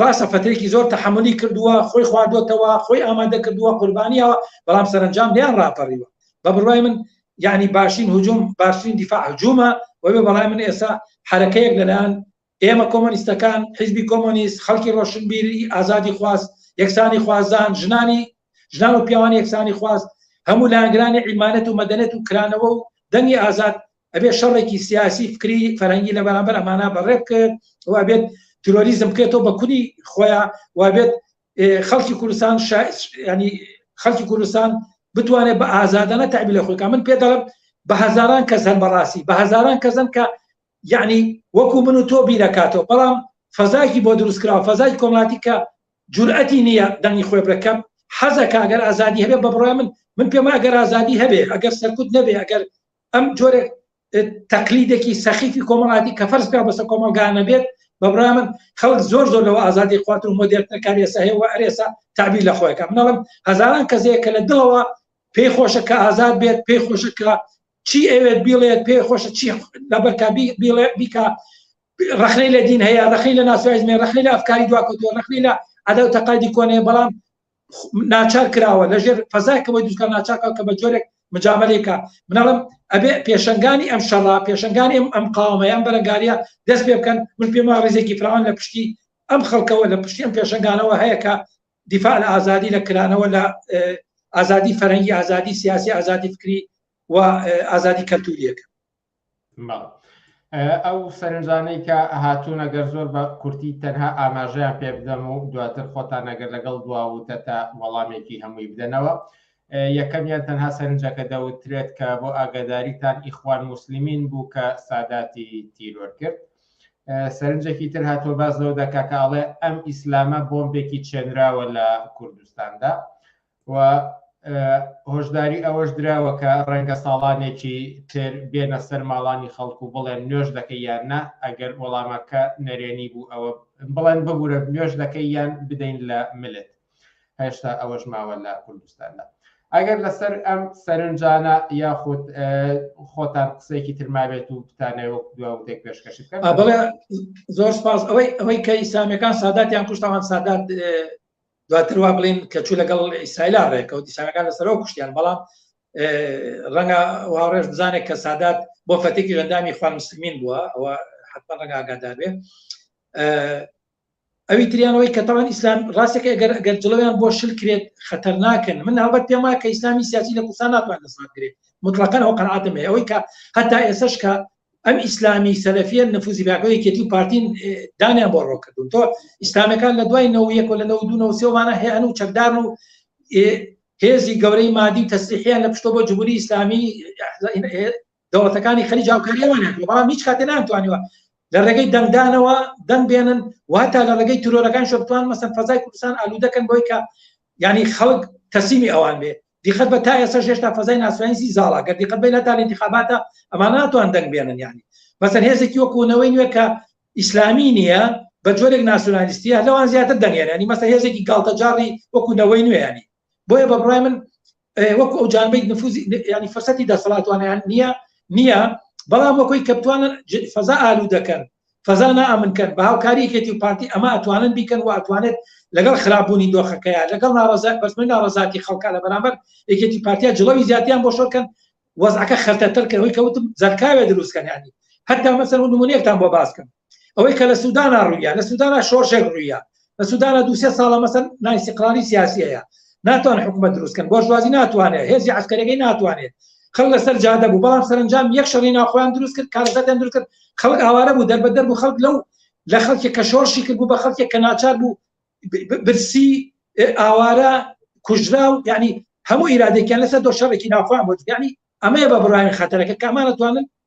ڕاستە فەترێکی زۆر تەحەمولی کردووە خۆی خواردۆتەوە خۆی ئامادە کردووە قوربانیەوە بەڵام سەرنجام نیان ڕاپەڕیوە بە بڕای من یعنی باشین هجوم باشترین دیفاع هجومە وەێ بەڵای من ئێستا حرەکەیەک لەلایەن ئێمە کۆمۆنیستەکان حیزبی کۆمۆنیست خەڵکی ڕۆشنبیری ئازادی خواست یەکسانی خوازان ژنانی ژنان و پیاوانی یەکسانی خواست هەموو لایەنگرانی عیمانەت و مەدەنێت و کرانەوە و دەنگی ئازاد ئەبێت شەڕێکی سیاسی فکری فەرەنگی لە بەرامبەر ئەمانە بەڕێ بکرد و ئەبێت ترۆریزم بکرێتەوە بە کونی خۆیان وابێت خەڵکی کوردستان ینی خەڵکی کوردستان بتوانێت بە ئازادانە تعبی لە خۆکە من پێ دەڵم بە هزاران کەس هەن بەڕاستی بە هزاران کەزن کە یعنی وەکو من و تۆ بیرەکاتەوە بەڵام فەزایکی بۆ دروستکرا فەزای کۆمەڵاتی کە جورئەتی نییە دەنگی خۆی بەکەم حەزەکە ئەگەر ئازادی هەبێ بە بڕای من من پێم ئەگەر ئازادی هەبێ ئەگەر سەرکوت نەبێ ئەگەر ئەم جۆرە تەقلیدێکی سەخیفی کۆمەڵاتی کە فەرز پێ بەسە کۆمەلگانە بێت بە برامن خەڵک زۆر زۆر لەوە ئازادی خوات و مۆدێرتەکاری ئێسا هەیە و ئەرێسا تعبیر لە خۆیەکە منەڵم هەزاران کەسەیە کە لە دڵەوە پێی خۆشە کە ئازاد بێت پێی خۆشە کە چی ئەوێت بیڵێت پێ خۆشە چی لەبەرکە بیڵێ بیکە رەخنەی لە دین هەیە رەخی لە ناسوایزمێ رەخنەی لە ئەفکاری دواکەوتوە رەخنەی لە عدا و تەقادی کۆنێ بەڵام ناچار کراوە لەژێر فەزایکەوەی دووکە ناچارکە کە بە جۆرێک مجاملێکە منەڵم ئەبێ پێشنگانی ئەم شەڕا پێشنگانی ئەم قاومەیان بەرەنگاریە دەست پێ بکەن من پێم وا ڕێزێکی فراوان لە پشتی ئەم خەڵکەوە لە پشتی ئەم پێشنگانەوە هەیەکە دیفاع لە ئازادی لە کرانەوە لە ئازادی فەرەنگی ئازادی سیاسی ئازادی فکری و ئازادی کەلتوریەکە ئەو سەرنجانەی کە هاتوون ئەگەر زۆر بە کورتی تەنها ئاماژەیان پێ بدەم و دواتر خۆتان نەگەر لەگەڵ دواوتە تا وەڵامێکی هەمووی بدەنەوە یەکەمیان تەنها سەرنجەکە دەوترێت کە بۆ ئاگاداریتان ئیخوان مسللمین بوو کە ساداتی تیرۆر کرد سەرنجێکی تر هاتۆ باز لەو دەکا کە ئەڵێ ئەم ئیسلامە بۆمبێکی چێنراوە لە کوردستاندا و هۆشداری ئەوەش دراوە کە ڕەنگە ساڵانێکی تر بێنە سەر ماڵانی خەڵک و بڵێن نوێش دەکە یان نا ئەگەر وەڵامەکە نەرێنی بوو ئەوە بڵێن ببوورە نوێش دەکەی یان بدەین لە ملت هێشتا ئەوەش ماوە لە کوردستاندا ئەگەر لەسەر ئەم سەرنجانە یاخود خۆتان قسێکی ترمابێت و بتانەوە دواتێک پێشکەش بکەن زۆر سپاس ئەوەی ئەوەی کە ئیسلامیەکان ساداتیان کوشتەوان سادات دواتر وا بڵین کە چوو لەگەڵ ئیسرائیلا ڕێکەوت ئیسانەکان لەسەرەوە کوشتیان بەڵام ڕەنگە واڕێژ بزانێت کە سادات بۆ فەتێکی ژەندامی خوان مسلمین بووە ئەوە حتمما ڕەنگە ئاگادار بێ ئەوی تریانەوەی کە تاوان ئیسلام ڕاستێکە گەر گەر جڵەوەیان بۆ شل کرێت خەتەر ناکەن من هەڵبەت پێم وایە کە ئیسلامی سیاسی لە کوردستان ناتوان دەسڵات کرێت مطلقەن ئەو قەنعاتم هەیە ئەوەی کە هەتا ئێسش کە ئەم ئیسلامی سەلەفیە نفوزی پاکە یەکێتی و پارتین دانیان بۆ ڕۆ کردون تۆ ئیسلامەکان لە دوای نەوە یەک و لە نەوە دوو نەوە سێوانە هەیەن و چەکدار و هێزی گەورەی مادی و تەسلیحیان لە پشتۆ بۆ جمهوری ئیسلامی دەوڵەتەکانی خەری جاوکاریەوەیان بەڵام هیچ کاتێ نامتوانیوە لە ڕێگەی دەنگدانەوە دەنگ بێنن واتا لە ڕێگەی ترۆرەکان شتوان مەسەن فەزای کوردستان ئالوودەکەن بۆی کە ینی خەڵک تەسیمی ئەوان بێت دیقەت بە تا ئێستا هێشتا فەزای ناسیۆنالیستی زاڵە گەر دیقەت بە لە تا انتخاباتە ئەمان ناتوان دەنگ بێنن یعنی مەسەر هێزێکی وەکوونەوەی نوێ کە ئیسلامی نییە بە جۆرێک ناسیۆنالیستیە لەوان زیاتر دەنگێنانی مەسە هێزێکی گاڵتەجاڕی وەکوونەوەی نوێیانی بۆیە بە بڕای من وەکو ئەو جانبی نفوزی ینی فرسەتی دەسەڵاتوانیان نییە نییە بەڵام وەکۆی کە بتوانن فەزا ئالو دەکەن فەزا نائەمن کەر بە هاوکاری یەکێتی و پارتی ئەمە ئەتوانن بیکەن و ئەتوانێت لەگەڵ خراپ بوونی دۆخەکەیە لەگەڵ ناڕەزا بەرزبوونی ناڕەزاتی خەڵکا لە بەرامبەر یەکێتی پارتیا جڵەوی زیاتیان بۆ شۆر کەن وەزعەکە خەرتەتر کە هۆی کەوتم زەرکاوێ دروست کەن یانی هەتا مەسەر و نمونەیەکتان بۆ باس کەم ئەوەی کە لە سوودانا ڕوویە لە سوودانا شۆرشێک ڕوویە لە سودانا دو سێ ساڵە مەسەن نائیستیقرالی سیاسی هەیە ناتوان حکومە دروستکەن بۆرژوازی ناتوانێت هێزی عسکەرەکەی ناتوانێت خەڵ لەسەر جادە بوو بەڵام سەرنجام یەک شەڕی ناخۆیان دروست کرد کارەکەتیان دروست کرد خەڵک ئاوارە بوو دەربە دەر بوو خەڵک لەو لە خەڵکی کە شۆڕشی کرد بوو بە خەڵکێک کە ناچار بوو برسی ئاوارە کوژرا و یعنی هەموو ئیرادێکیان لەسەر دۆ شەڕێکی ناخۆیان بۆ یعنی ئەمەیە بە بڕای خەتەرەکە کامانەتوانن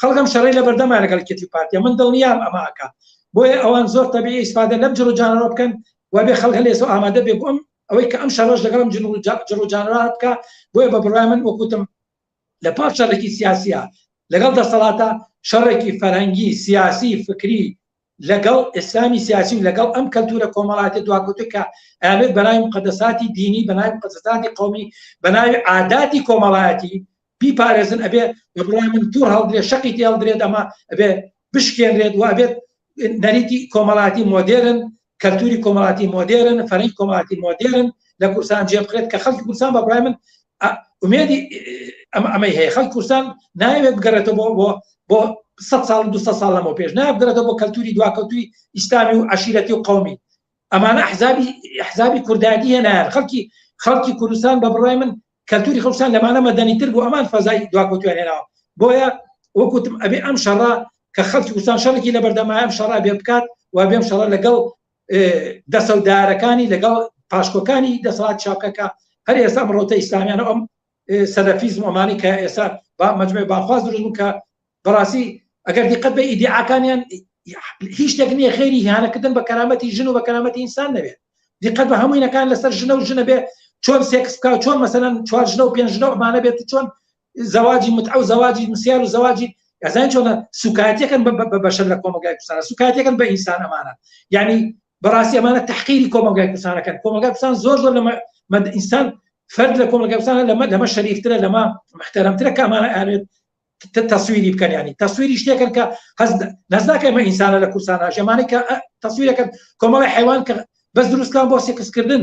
خەڵک ئەم شەڕەی لەبەردەما لەگەڵ کێتی و پارتیە من دڵنیام ئەمە ئەکا بۆیە ئەوان زۆر تەبیعی ئیسفادە لەم جڕ و جانەوە بکەن و بێ خەڵک هەلێس و ئامادە بێ بۆم ئەوەی کە ئەم شەڕەش لەگەڵم جن و جا- جڕ و جانەوە بکە بۆیە بە بڕای من وەکوتم لە پاش شەڕێکی سیاسیە لەگەڵ دەسەڵاتە شەڕێکی فەرهەنگی سیاسی فکری لەگەڵ ئیسلامی سیاسی و لەگەڵ ئەم کەلتورە کۆمەڵاتی دواکوتە کە ئەیانوێت بەناوی مقەدەساتی دینی بەناوی مقەدەساتی قومی بەناوی عاداتی کۆمەڵایەتی بیپارێزن ئەبێ بە بڕای من توور هەڵدرێت شەقی تێ هەڵدرێت ئەمە ئەبێ بشکێنرێت و ئەبێت نەریتی کۆمەڵاتی مۆدێرن کەلتوری کۆمەڵاتی مۆدێرن فەرەنگ کۆمەڵاتی مۆدێرن لە کوردستان جێبخرێت کە خەڵکی کوردستان بە بڕای من ئومێدی ئەم ئەمەی هەیە خەڵ کوردستان ناوێت بگەڕێتەوە بۆ بۆ بۆ سە ساڵ دو ساڵ لەمەوە پێش نابگەڕێتەوە بۆ کەلتوری دواکەوتوی ئیسلامی و عشیرەتی و قومی ئەمانە حزابی حزابی کوردایەتی هێنایان خەڵکی خەڵکی کوردستان بە بڕای من کەلتوری خۆستان لەمانە مەدەنیتر بۆ ئەمان فەزای دواکەوتویان هێناوە بۆیە وەکوتم ئەبێ ئەم شەڕە کە خەڵکی کوردستان شەڕێکی لە بەردەمایەم شەڕا بێ بکات و بێم شەڕە لەگەڵ دەسەودارەکانی لەگەڵ پاشکۆکانی دەسەڵات چاپکەکە هەر ئێستا بڕۆتە ئیسلامیان ئەم سەلەفیزم ئەمانی کە ئێستا با مجموعی باخواز دروستبوو کە بەڕاستی ئەگەر دیقەت بە ئیدعاکانیان هیچ شتێک نییە خێری هیانەکردن بە کەرامەتی ژن و بە کەرامەتی ئینسان نەبێت دیقەت بە هەموینەکان لەسەر ژنە و ژنە بێ چۆن سێکس بکە چۆن مەسەەن چوار ژنە و پێنج ژنە ئەمانە بێت چۆن زەواجی متعە و زەواجی مسیار و زەواجی ئەزان چۆنە سوکایەتەکەن بە بەشەر لە کۆمەلگای کوردستان سوکایەتەکەن بە ئینسان ئەمانە یعنی بەڕاستی ئەمانە تحقیری کۆمەلگای کوردستانەکەن کۆمەلگای کوردستان زۆر زۆر لەمە مەد ئینسان فرد لە کۆمەلگای کوردستان لەمە لەمە شەریفترە لەمە محتەرەمترە کە ئەمانە ئەوێت تەسویری بکەن ینی تەسویری شتێکن کە هەز نزداکە ئەمە ئینسانە لە کوردستان ژەمانەی کە تەسویرەکەن کۆمەڵی حیوان کە بەس دروستکان بۆ سێکسکردن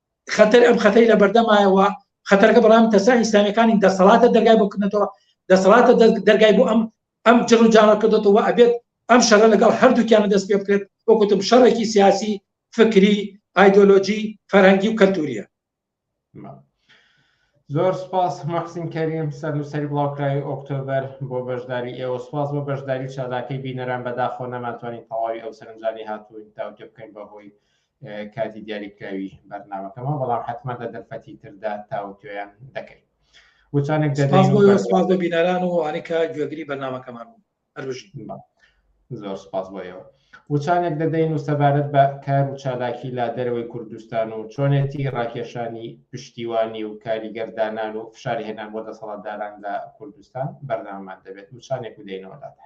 خەتەر ئەم خەتەری لە بەردەمایەوە خەتەرەکە بەڵام تەسا ئیسلامیەکانی دەسەڵاتە دەرگای بۆ کردنەوە دەسەڵاتە دەرگای بۆ ئەم ئەم جڕ و جاڕە کردێتەوە ئەبێت ئەم شەڕە لەگەڵ هەردووکیانە دەست پێ بکرێت وەکوتم شەڕێکی سیاسی فکری ئایدۆلۆجی فەرهەنگی و کەلتوریە زۆر سپاس مەحسین کەریم سەر نووسری بڵاوکراوی ئۆکتۆبەر بۆ بەشداری ئێوە سپاس بۆ بەشداری چالاکەی بینەران بەداخۆ نەماتوانین تەواوی ئەو سەرنجانی هاتووین تاوتێ بکەین بەهۆی کاتی دیاریکراوی بەرنامەکەمە بەڵام حتمما لە دەرفەتی تردا تاوتوێن دەکەین وچانێک سپاس بۆ بینەران و ئەنیکە گوێگری بەرنمەکەمان هەرژی زۆر سپاس بۆیەوە وچانێک دەدەین و سەبارەت بە کار و چالاکی لا دەرەوەی کوردستان و چۆنێتی ڕاکێشانی پشتیوانی و کاریگەردانان و فشارهێنان بۆ دەسەڵاتداران لە کوردستان بەردەمان دەبێت وچانێک و دێنەوەدادا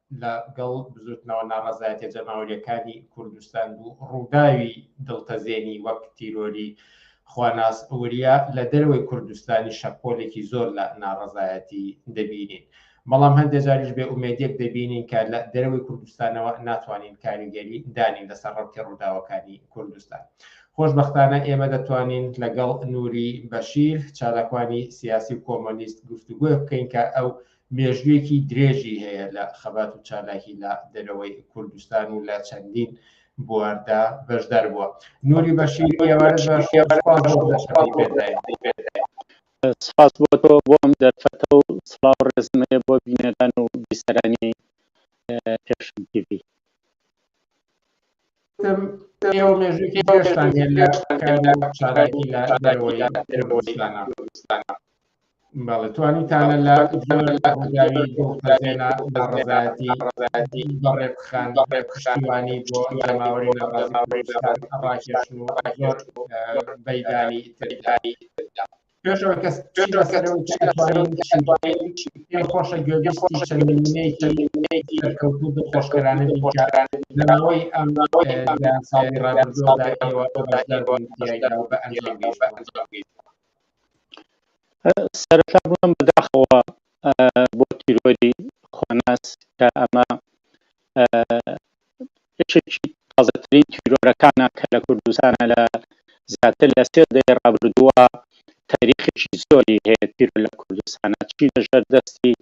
لە گەڵ بزوتنەوە ناڕەزایەتیە جەماوەریەکانی کوردستان بوو ڕووداوی دڵتەزێنی وەک تیرۆری خواناس وریا لە دەروەی کوردستانی شەپۆلێکی زۆر لە ناڕەزایەتی دەبینین بەڵام هەندێک جاریش بێ ئومێدێک دەبینین کە لە دەروی کوردستانەوە ناتوانین کاریگەری دانین لەسەر ڕەوتی ڕووداوەکانی کوردستان خۆشببختانە ئێمە دەتوانین لەگەڵ نووری بەشیر چالاکوانی سیاسی و کۆمۆنیست گفتوگوۆ بکەین کە ئەو مێژوویەکی درێژی هەیە لە خەبات و چالاکی لە دەرەوەی کوردستان و لە چەندین بواردا بەشدار بووە نوری بەشی سپاس بۆ تۆ بۆم دەرفەتە و سڵاو ڕێزم هەیە بۆ بینەران و بیسەرانی پێشم تیڤی ئێوە مێژووی پێشتان هێن لە چالاکی لە دەرەوەی کوردستانە بەڵێ توانیتانە لە ڕووداوی دڵتەزێنە لە ڕەزایەتی ڕەزایەتی بە ڕێبخان بە ڕێبخشتیوانی بۆ جەماوەری ناڕازی کوردستان ڕاکێشن و زۆر بەیدانی تریداری پێشەوە کەس پێم خۆشە گوێگەشتی چەند نمونەیەکی سەرکەوتوو دڵخۆشکەرانە لەماوەی ئەم ساڵی ڕابردووەوە بە ئەنجام بە ئەنجام سەرەتا بووم بە داخەوە بۆ تیرۆری خۆناس کە ئەمە یەکێکی تازەترین تیرۆرەکانە کە لە کوردستانە لە زیاتر لە سێ دەی ڕابردووە تاریخێکی زۆری هەیە تیرۆر لە کوردستانە چی لەژێر دەستی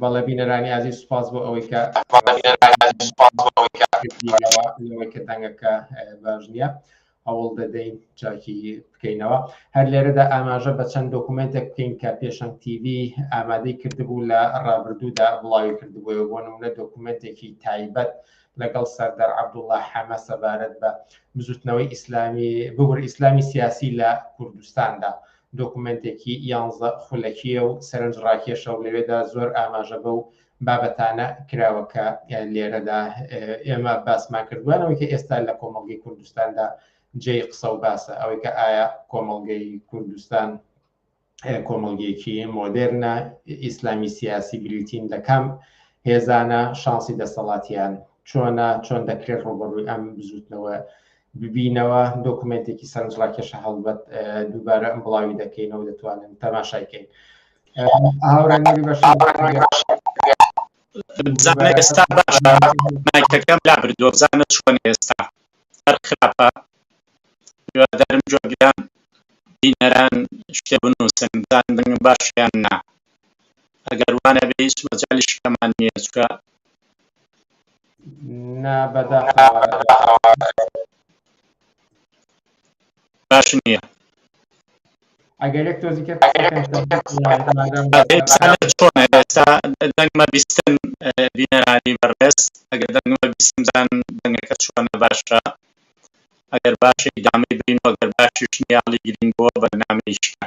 بەڵێ بینەرانی ئازیز سوپاس بۆ ئەوەی کە ئەوەی کە دەنگەکە باش نییە هەوڵ دەدەین چاکی بکەینەوە هەر لێرەدا ئاماژە بە چەند دۆکومنتێک بکەین کە پێشەن TV ئامادەی کردبوو لە ڕابردوودا بڵاوی کردبووە بۆ نمونە دۆکومنتێکی تایبەت لەگەڵ سەردەر عبدوڵە حەمە سەبارەت بە بزوتنەوەی ئیسلامی ببور ئیسلامی سیاسی لە کوردستاندا. دۆکومێنتێکی یانزە خولەکییە و سەرنجڕاکێشە و لەوێدا زۆر ئاماژە بەو بابەتانە کراوە کە لێرەدا ئێمە باسمان کردوانەوەی کە ئێستا لە کۆمەڵگەی کوردستاندا جێی قسە و باسە ئەوەی کە ئایا کۆمەڵگەی کوردستان کۆمەڵگیەکی مۆدێرنە ئیسلامی سیاسی بریتین لە کام هێزانە شانسی دەسەڵاتیان چۆنە چۆن دەکرێت ڕوبڕووی ئەم بزوتنەوە ببینەوە دۆکومنتێکی سەرنجڕاکێشە هەڵبەت دووبارە ئەم بڵاوی دەکەینەوە دەتوانن تەماشای کەین هاوڕێنەری بەش بزانە ئێستا باشە مایکەکەم لا بردووە بزانە چۆن ئێستا هەر خراپە هیوادارم جوابیان بینەران شتێ بنووسن بزان دەنگم باشیان نا ئەگەر وانە بێ هیچ مەجالی شکەمان نییە چکە نا بەداخەوە باش نییە ئەگەرێک تۆزیکە ئێستا دەنگمە بیستن بینەرانی بەڕێز ئەگەر دەنگمە بیستم زان دەنگەکە چۆنە باشە ئەگەر باشی دامەی بین وەگەر باشیش نیاڵی گرین بووە بەرنامەیشکە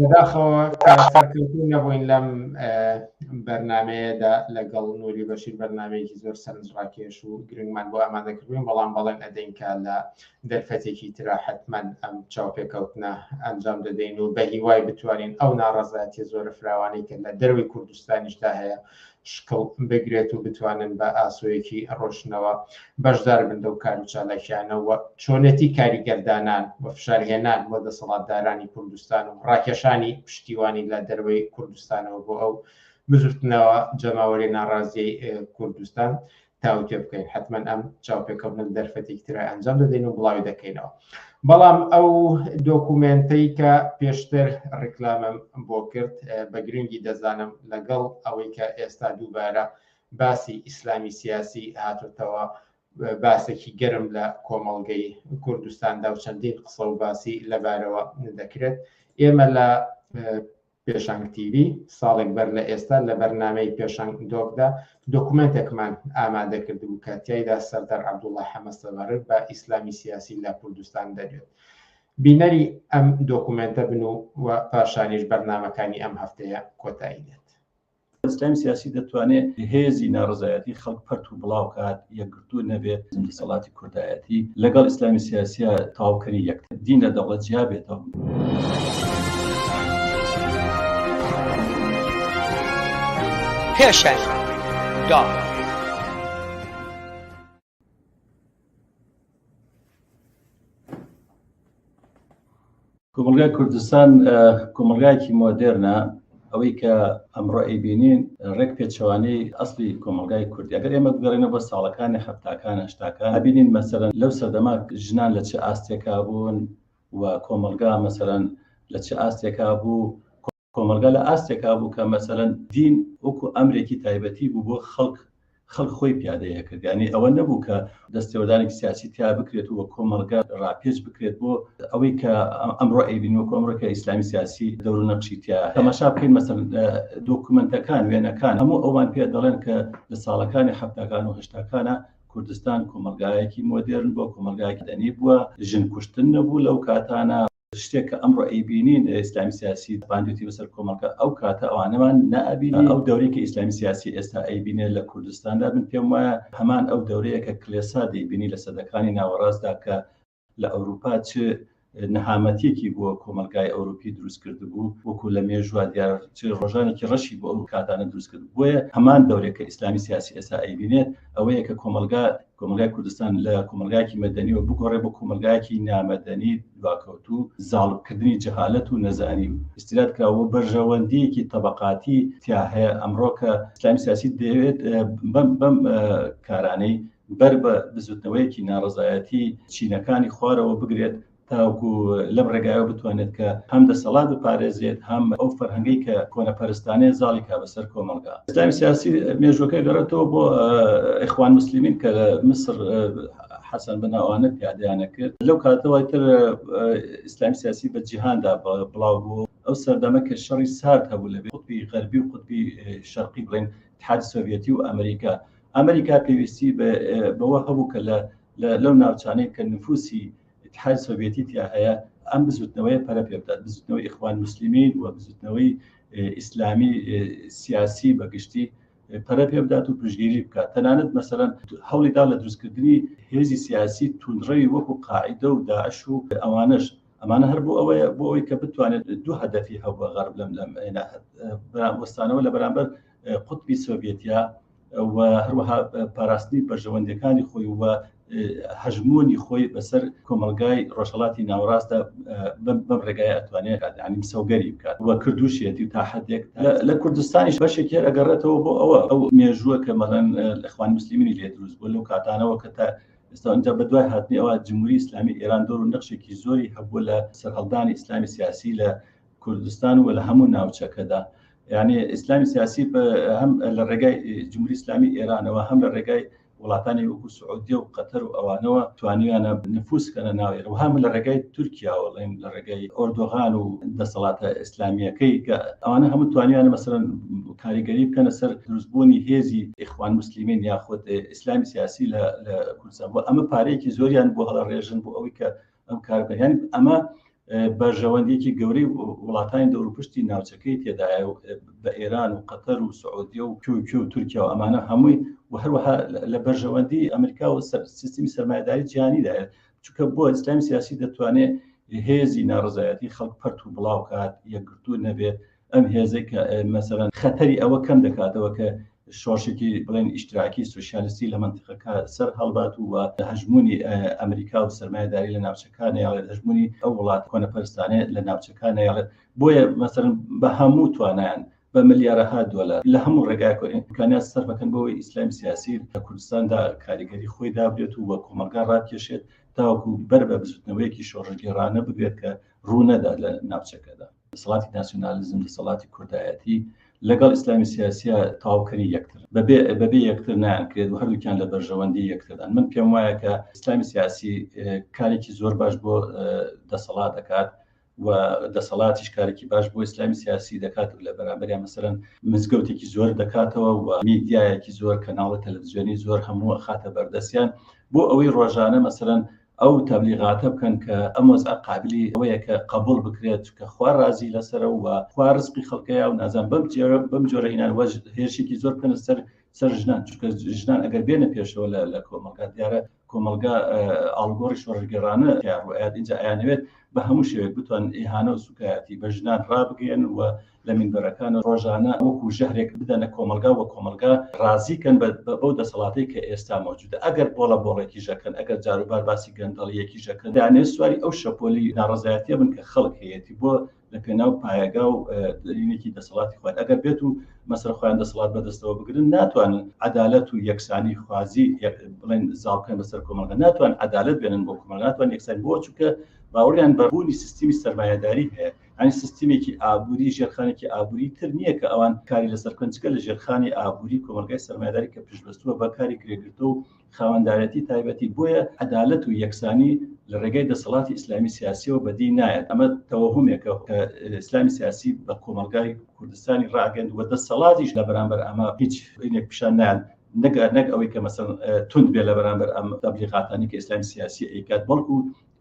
بەداخەوە کە سەرکەوتوو نەبووین لەم بەرنمەیەدا لەگەڵ نوری بەشیر بەرنمەیەکی زۆر سەرنجڕاکێش و گرنگمان بۆ ئامادە کردوین بەڵام بەڵێن ئەدەینکە لە دەرفەتێکی تررا حتمما ئەم چاوپێکەوتنە ئەنجام دەدەین و بە هیوای بتوانین ئەو ناڕزایەتی زۆرە فراوانەی کە لە دەروی کوردستانیشدا هەیە شکڵ بگرێت و بتوانن بە ئاسۆیەکی ڕۆشنەوە بەشدار بن لەو کار و چالاکیانەوە چۆنێتی کاریگەردانان و فشارهێنان بۆ دەسەڵاتدارانی کوردستان و ڕاکێشانی پشتیوانی لە دەروەی کوردستانەوە بۆ ئەو بزوتنەوە جەماوەری ناڕازیی کوردستان تاوتێ بکەین حتمما ئەم چاوپێکەوتن دەرفەتێکی ترای ئەنجام دەدەین و بڵاوی دەکەینەوە بەڵام ئەو دۆکومنتەی کە پێشتر ڕیکلامم بۆ کرد بە گرنگی دەزانم لەگەڵ ئەوەی کە ئێستا دووبارە باسی ئیسلامی سیاسی هاتوتەوە باسێکی گەرم لە کۆمەڵگەی کوردستاندا و چەندین قسە و باسی لەبارەوە دەکرێت ئێمە لە پێشانگ تیڤی، ساڵێک بەر لە ئێستا لە بەرنامەی پێشانگ دۆکدا دۆکومێنتێکمان ئامادە کردبوو کە تیایدا سەردار عەبدوڵا حەمە سەبارەت بە ئیسلامی سیاسی لە کوردستان دەدوێت. بینەری ئەم دۆکومێنتە بن و پاشانیش بەرنامەکانی ئەم هەفتەیە کۆتایی دێت. ئیسلامی سیاسی دەتوانێت هێزی ناڕزایەتی خەڵک پەرت و بڵاو کات یەکگرتو نەبێت دەسەڵاتی کوردایەتی لەگەڵ ئیسلامی سیاسە تاوکەری یەک دین لە دەوڵەت جیا بێتەوە. پێشەر دا. کۆمەلگای کوردستان کۆمەلگایەکی مۆدێرنە ئەوەی کە ئەمڕۆ ئەیبینین ڕێک پێچوانەی ئەسلی کۆمەلگای کوردی ئەگەر ئێمە بگەڕێنە بە ساڵەکانی هەفتاکان هەشتاکان ئەبینین مەسەرەن لەو سەردەما ژنان لە چ ئاستێکا بوون و کۆمەلگا مەسەرەن لە چ ئاستێکا بوو کۆمەڵگا لە ئاستێکا بوو کە مەسەلەن دین وەکو ئەمرێکی تایبەتی بوو بۆ خەڵک، خەڵک خۆی پیادەی ئەکرد، یانی ئەوە نەبوو کە دەستێوەردانێکی سیاسی تیا بکرێت و کۆمەڵگا ڕاپێچ بکرێت بۆ ئەوەی کە ئەمڕۆ ئەیبینین وەکو ئەمڕۆ کە ئیسلامی سیاسی دەور و نەقشی تیا هەیە. تەماشا بکەین مەسەلەن دۆکومێنتەکان، وێنەکان هەموو ئەوان پێ دەڵێن کە لە ساڵەکانی حەفتاکان و هەشتاکانا کوردستان کۆمەڵگایەکی مۆدێرن بووە، کۆمەڵگایەکی مەدەنی بووە، ژن کوشتن نەبوو لەو کاتانا، شتێک کە ئەمڕۆ ئەیبینین ئیسلامی سیاسی باندێتی بەسەر کۆمەڵگە ئەو کاتە ئەوانەمان نابینی ئەو دەورێکی ئیسلامی سیاسی ئێستا ئەیبینێ لە کوردستاندا بن پێم وایە هەمان ئەو دەورەیە کە کلێسا دەیبینی لە سەدەکانی ناوەڕاستدا کە لە ئەوروپا چ نەهامەتیەکی بۆ کۆمەلگای ئەوروپی دروست کرد بوو وەکو لە مێژوا دیار ڕۆژانێکی ڕەشی بۆ ئەو کاتانە دروست کرد بۆیە هەمان دەورێک کە ئیسلامی سیاسی ئێستا ئەیبینێت ئەوەیە کە کۆمەلگا کۆمەڵگای کوردستان لە کۆمەڵگایەکی مەدەنیەوە بگۆڕێ بۆ کۆمەلگایەکی نامەدەنی دواکەوتوو زاڵبکردنی جەهالەت و نەزانی و استیراد کراوە بەرژەوەندیەکی تەبقاتی تیا هەیە ئەمڕۆکە ئسلامی سیاسی دەوێت بەم بەم کارانەی بەر بە بزوتنەوەیەکی ناڕزایەتی چینەکانی خوارەوە بگرێت تاوەکو لەم ڕێگایەوە بتوانێت کە هەم دەسەڵات بپارێزێت هەم ئەو فەرهەنگەی کە کۆنەپەرستانەیە زاڵی کا بەسەر کۆمەڵگا ئسلامی سیاسی مێژوەکە گەڕێتەوە بۆ ئەخوان مسللمین کە لە مسر حەسەن بەناوانە پیادیانە کرد لەو کاتەوەی تر ئیسلام سیاسی بە جیهاندا بڵاو بوو ئەو سەردەمە کە شەڕی سارد هەبوو لە قوتبی غەربی و قوتبی شەرقی بڵێن تحاد سۆڤەتی و ئەمریکا ئەمریکا پێویستی بەوە هەبوو کە لە لەو ناوچانەی کە نفوسی ئیتحاد سۆڤێتی تیا هەیە ئەم بزوتنەوەی پەرە پێ بدات بزوتنەوەی ئیخوان مسلمین و بزوتنەوەی ئیسلامی سیاسی بەگشتی پەرە پێ بدات و پشگیری بکات تەنانەت مەسەرەن هەوڵیدا لە دروستکردنی هێزی سیاسی تونڕەوی وەکو قاعدە و داعش و ئەوانش ئەمانە هەر بۆ ئەوەیە بۆ ئەوی کە بتوانێت دوو هەدەفی هەبووە غەرب لەم لەم وەستانەوە لە بەرامبەر قوتبی سۆڤێتیا و هەروەها پاراستنی بەرژەوەندەکانی خۆی و هەژمونی خۆی بەسەر کۆمەلگای ڕۆژهڵاتی ناوەڕاستە بەم ڕێگای ئەتوانێت ئەنیم سەوگەری بکات و کردوشێتی تا حدێک لە کوردستانی بەشێکی ئەگەڕێتەوە بۆ ئەوە ئەو مێژووە کە مەڵەن لەخوان مسللیمینی لێ دروست بۆ لەو کاتانەوە کە تا ئێستا ئەنج بە دوای هاتنی ئەوە جمهوری ئسلامی ئێران دۆر و نەخشێکی زۆری هەبوو لە سەرهەڵدانی ئسلامی سیاسی لە کوردستان و لە هەموو ناوچەکەدا یعنی ئیسلامی سیاسی هەم لە ڕێگای جمهوری ئسلامی ئێرانەوە هەم لە ڕێگای وڵاتانی وەکو سعودیە و قەتەر و ئەوانەوە توانیانە نفوسکەە ناوێر و هەم لە ڕێگای تورکیاوەڵێن لە ڕێگای ئۆردۆغان و دەسەڵاتە ئیسلامیەکەی کە ئەوانە هەموو توانیانە مەسەرەن کاریگەری بکەنە سەر دروستبوونی هێزی ئیخوان مسللیمین یاخود ئیسلامی سیاسی لە کوردستان بۆ ئەمە پارەیەکی زۆریان بۆ هەڵە ڕێژن بۆ ئەوەی کە ئەم کار بەیان ئەمە بەرژەوەندێکی گەورەی وڵاتانی دەوروپشتی ناوچەکەی تێدایە و بە ئێران و قەتەر و سعودیە و کوکی و تورکیا و ئەمانە هەمووی و هەروەها لە بەرژەوەندی ئەمریکا و سیستمی سەرمایداری جیانیدایە چکە بۆ ئیسلامی سیاسی دەتوانێت هێزی ناڕزایەتی خەڵک پەرت و بڵاوکات یەکگرتوو نەبێت ئەم هێزێک کە مەسەرەن خەتەری ئەوە کەم دەکاتەوە کە شۆشێکی بڵێن ئیشتراکی سوسیالستی لە منتیقەکە سەر هەڵبات و لە هەژمونی ئەمریکا و سرمایهداری لە ناوچەکانی یاڵێت هەژمونی ئەو وڵات کۆنەپەرستانێت لە ناوچەکانی یاڵێت بۆیە مەسەر بە هەموو توانیان بە ملیارەها دۆلار لە هەموو ڕێگاکۆ ئیمکانات سەرفەکەن بۆی ئیسلام سیاسی لە کوردستاندا کاریگەری خۆی دابێت و وە کۆمەلگا ڕاکێشێت تاوەکو بەر بە بزوتنەوەیەکی شۆڕژگێڕانە بگرێت کە ڕوونەدا لە ناوچەکەدا دەسەڵاتی ناسیۆنالیزم دەسەڵاتی کوردایەتی لەگەڵ ئیسلامی سیاسیە تاوکەری یەکتر بەبێ بەبێ یەکتر نانکرێت و هەردووکیان لە بەرژەوەندی یەکتردان من پێم وایە کە ئیسلامی سیاسی کارێکی زۆر باش بۆ دەسەڵات دەکات و دەسەڵاتیش کارێکی باش بۆ ئیسلامی سیاسی دەکات و لە بەرامبەریان مەسەرەن مزگەوتێکی زۆر دەکاتەوە و میدیایەکی زۆر کەناڵە تەلەڤزیۆنی زۆر هەموو خاتە بەردەستیان بۆ ئەوەی ڕۆژانە مەسەرەن ئەو تەبلیغاتە بکەن کە ئەم وەزعە قابیلی ئەوەیە کە قەبوڵ بکرێت چونکە خوا ڕازی لەسەرە و خوا ڕزقی خەڵکەیە و نازان بەم جۆرە بەم جۆرە ئینان وەج هێرشێکی زۆر بکەنە سەر سەر ژنان چونکە ژنان ئەگەر بێنە پێشەوە لە لە کۆمەڵگا دیارە کۆمەڵگا ئاڵگۆڕی شۆڕگەرانە تیاڕوئات ئینجا ئەیانەوێت بە هەموو شێوێک بتوان ئیهانە و سوکایەتی بە ژنان ڕابگەن و لە مینبەرەکان ڕۆژانە وەکو ژەهرێک بدەنە کۆمەڵگا و کۆمەڵگا ڕازی کەن بەو دەسەڵاتەی کە ئێستا مەوجودە ئەگەر بۆڵە بۆڵێکیش ئەکەن ئەگەر جاروبار باسی گەندەڵیەکیش ئەکەن دانێ سواری ئەو شەپۆلی ناڕەزایەتیە بن کە خەڵک هەیەتی بۆ لە پێناو پایەگا و دەرینێکی دەسەڵاتی خوارد ئەگەر بێت و مەسەر خۆیان دەسەڵات بەدەستەوە بگرن ناتوانن عدالەت و یەکسانی خوازی بڵێن زاڵکەن بەسەر کۆمەڵگە ناتوان عدالت بێنن بۆ کۆمەڵ ناتوان یەکسان بۆ چووکە باوەڕیان بەبوونی سیستمی سەرمایهداری هەیە یانی سیستمێکی ئابووری ژێرخانێکی ئابووری تر نییە کە ئەوان کاری لەسەر کنجکە لە ژێرخانی ئابووری کۆمەلگای سەرمایداری کە پشتبەستووە بە کاری کرێگرتە و خاوەندارەتی تایبەتی بۆیە عدالت و یەکسانی لە ڕێگای دەسەڵاتی ئیسلامی سیاسیەوە بەدی نایەت ئەمە تەوەهمێکە کە ئیسلامی سیاسی بە کۆمەلگای کوردستانی ڕاگەند و دەسەڵاتیش لە بەرامبەر ئەمە هیچ پیشان نایەن نەگەر نەک ئەوەی کە مەسەن تونند بێ لە بەرامبەر ئەم تەبلیغاتانی کە ئسلام سیاسی ئەیکات بەڵکو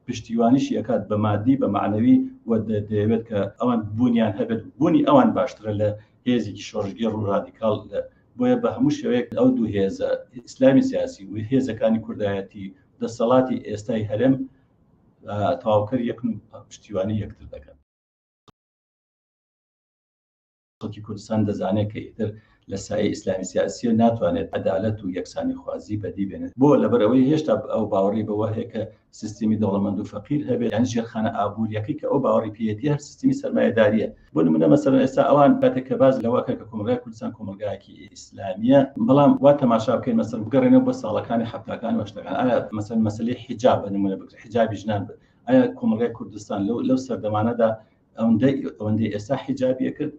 پشتیوانیشی ئەکات بە مادی بە مەعنەوی و دەیەوێت کە ئەوان بوونیان هەبێت بوونی ئەوان باشترە لە هێزێکی شۆڕشگێڕ و ڕادیکاڵ لە بۆیە بە هەموو شێوەیەک ئەو دوو هێزە ئیسلامی سیاسی و هێزەکانی کوردایەتی دەسەڵاتی ئێستای هەرێم تەواوکەر یەکن پشتیوانی یەکتر دەکەن خەڵکی کوردستان دەزانێت کە ئیتر لە سایەی ئیسلامی سیاسیە ناتوانێت عەدالەت و یەکسانی خوازی بەدی بێنێت بۆ لەبەرەوەی هێشتا ئەو باوەڕی بەوە هەیە کە سیستمی دەوڵەمەند و فەقیر هەبێت یان ژێرخانە ئابووریەکەی کە ئەو باوەڕی پێیەتی هەر سیستمی سەرمایەداریە بۆ نمونە مەسەلەن ئێستا ئەوان کاتێک کە باز لەوەکە کە کۆمەلگای کوردستان کۆمەلگایەکی ئیسلامیە بەڵام وا تەماشا بکەین مەسەر بگەڕێنەوە بۆ ساڵەکانی حەفتاکان وەشتەکان ئایا مەسەر مەسلی حیجاب بە نمونە بکرێت حیجابی ژنان بێت ئایا کۆمەلگای کوردستان لەو لەو سەردەمانەدا ئەوەندەی ئێستا حیجابیە کرد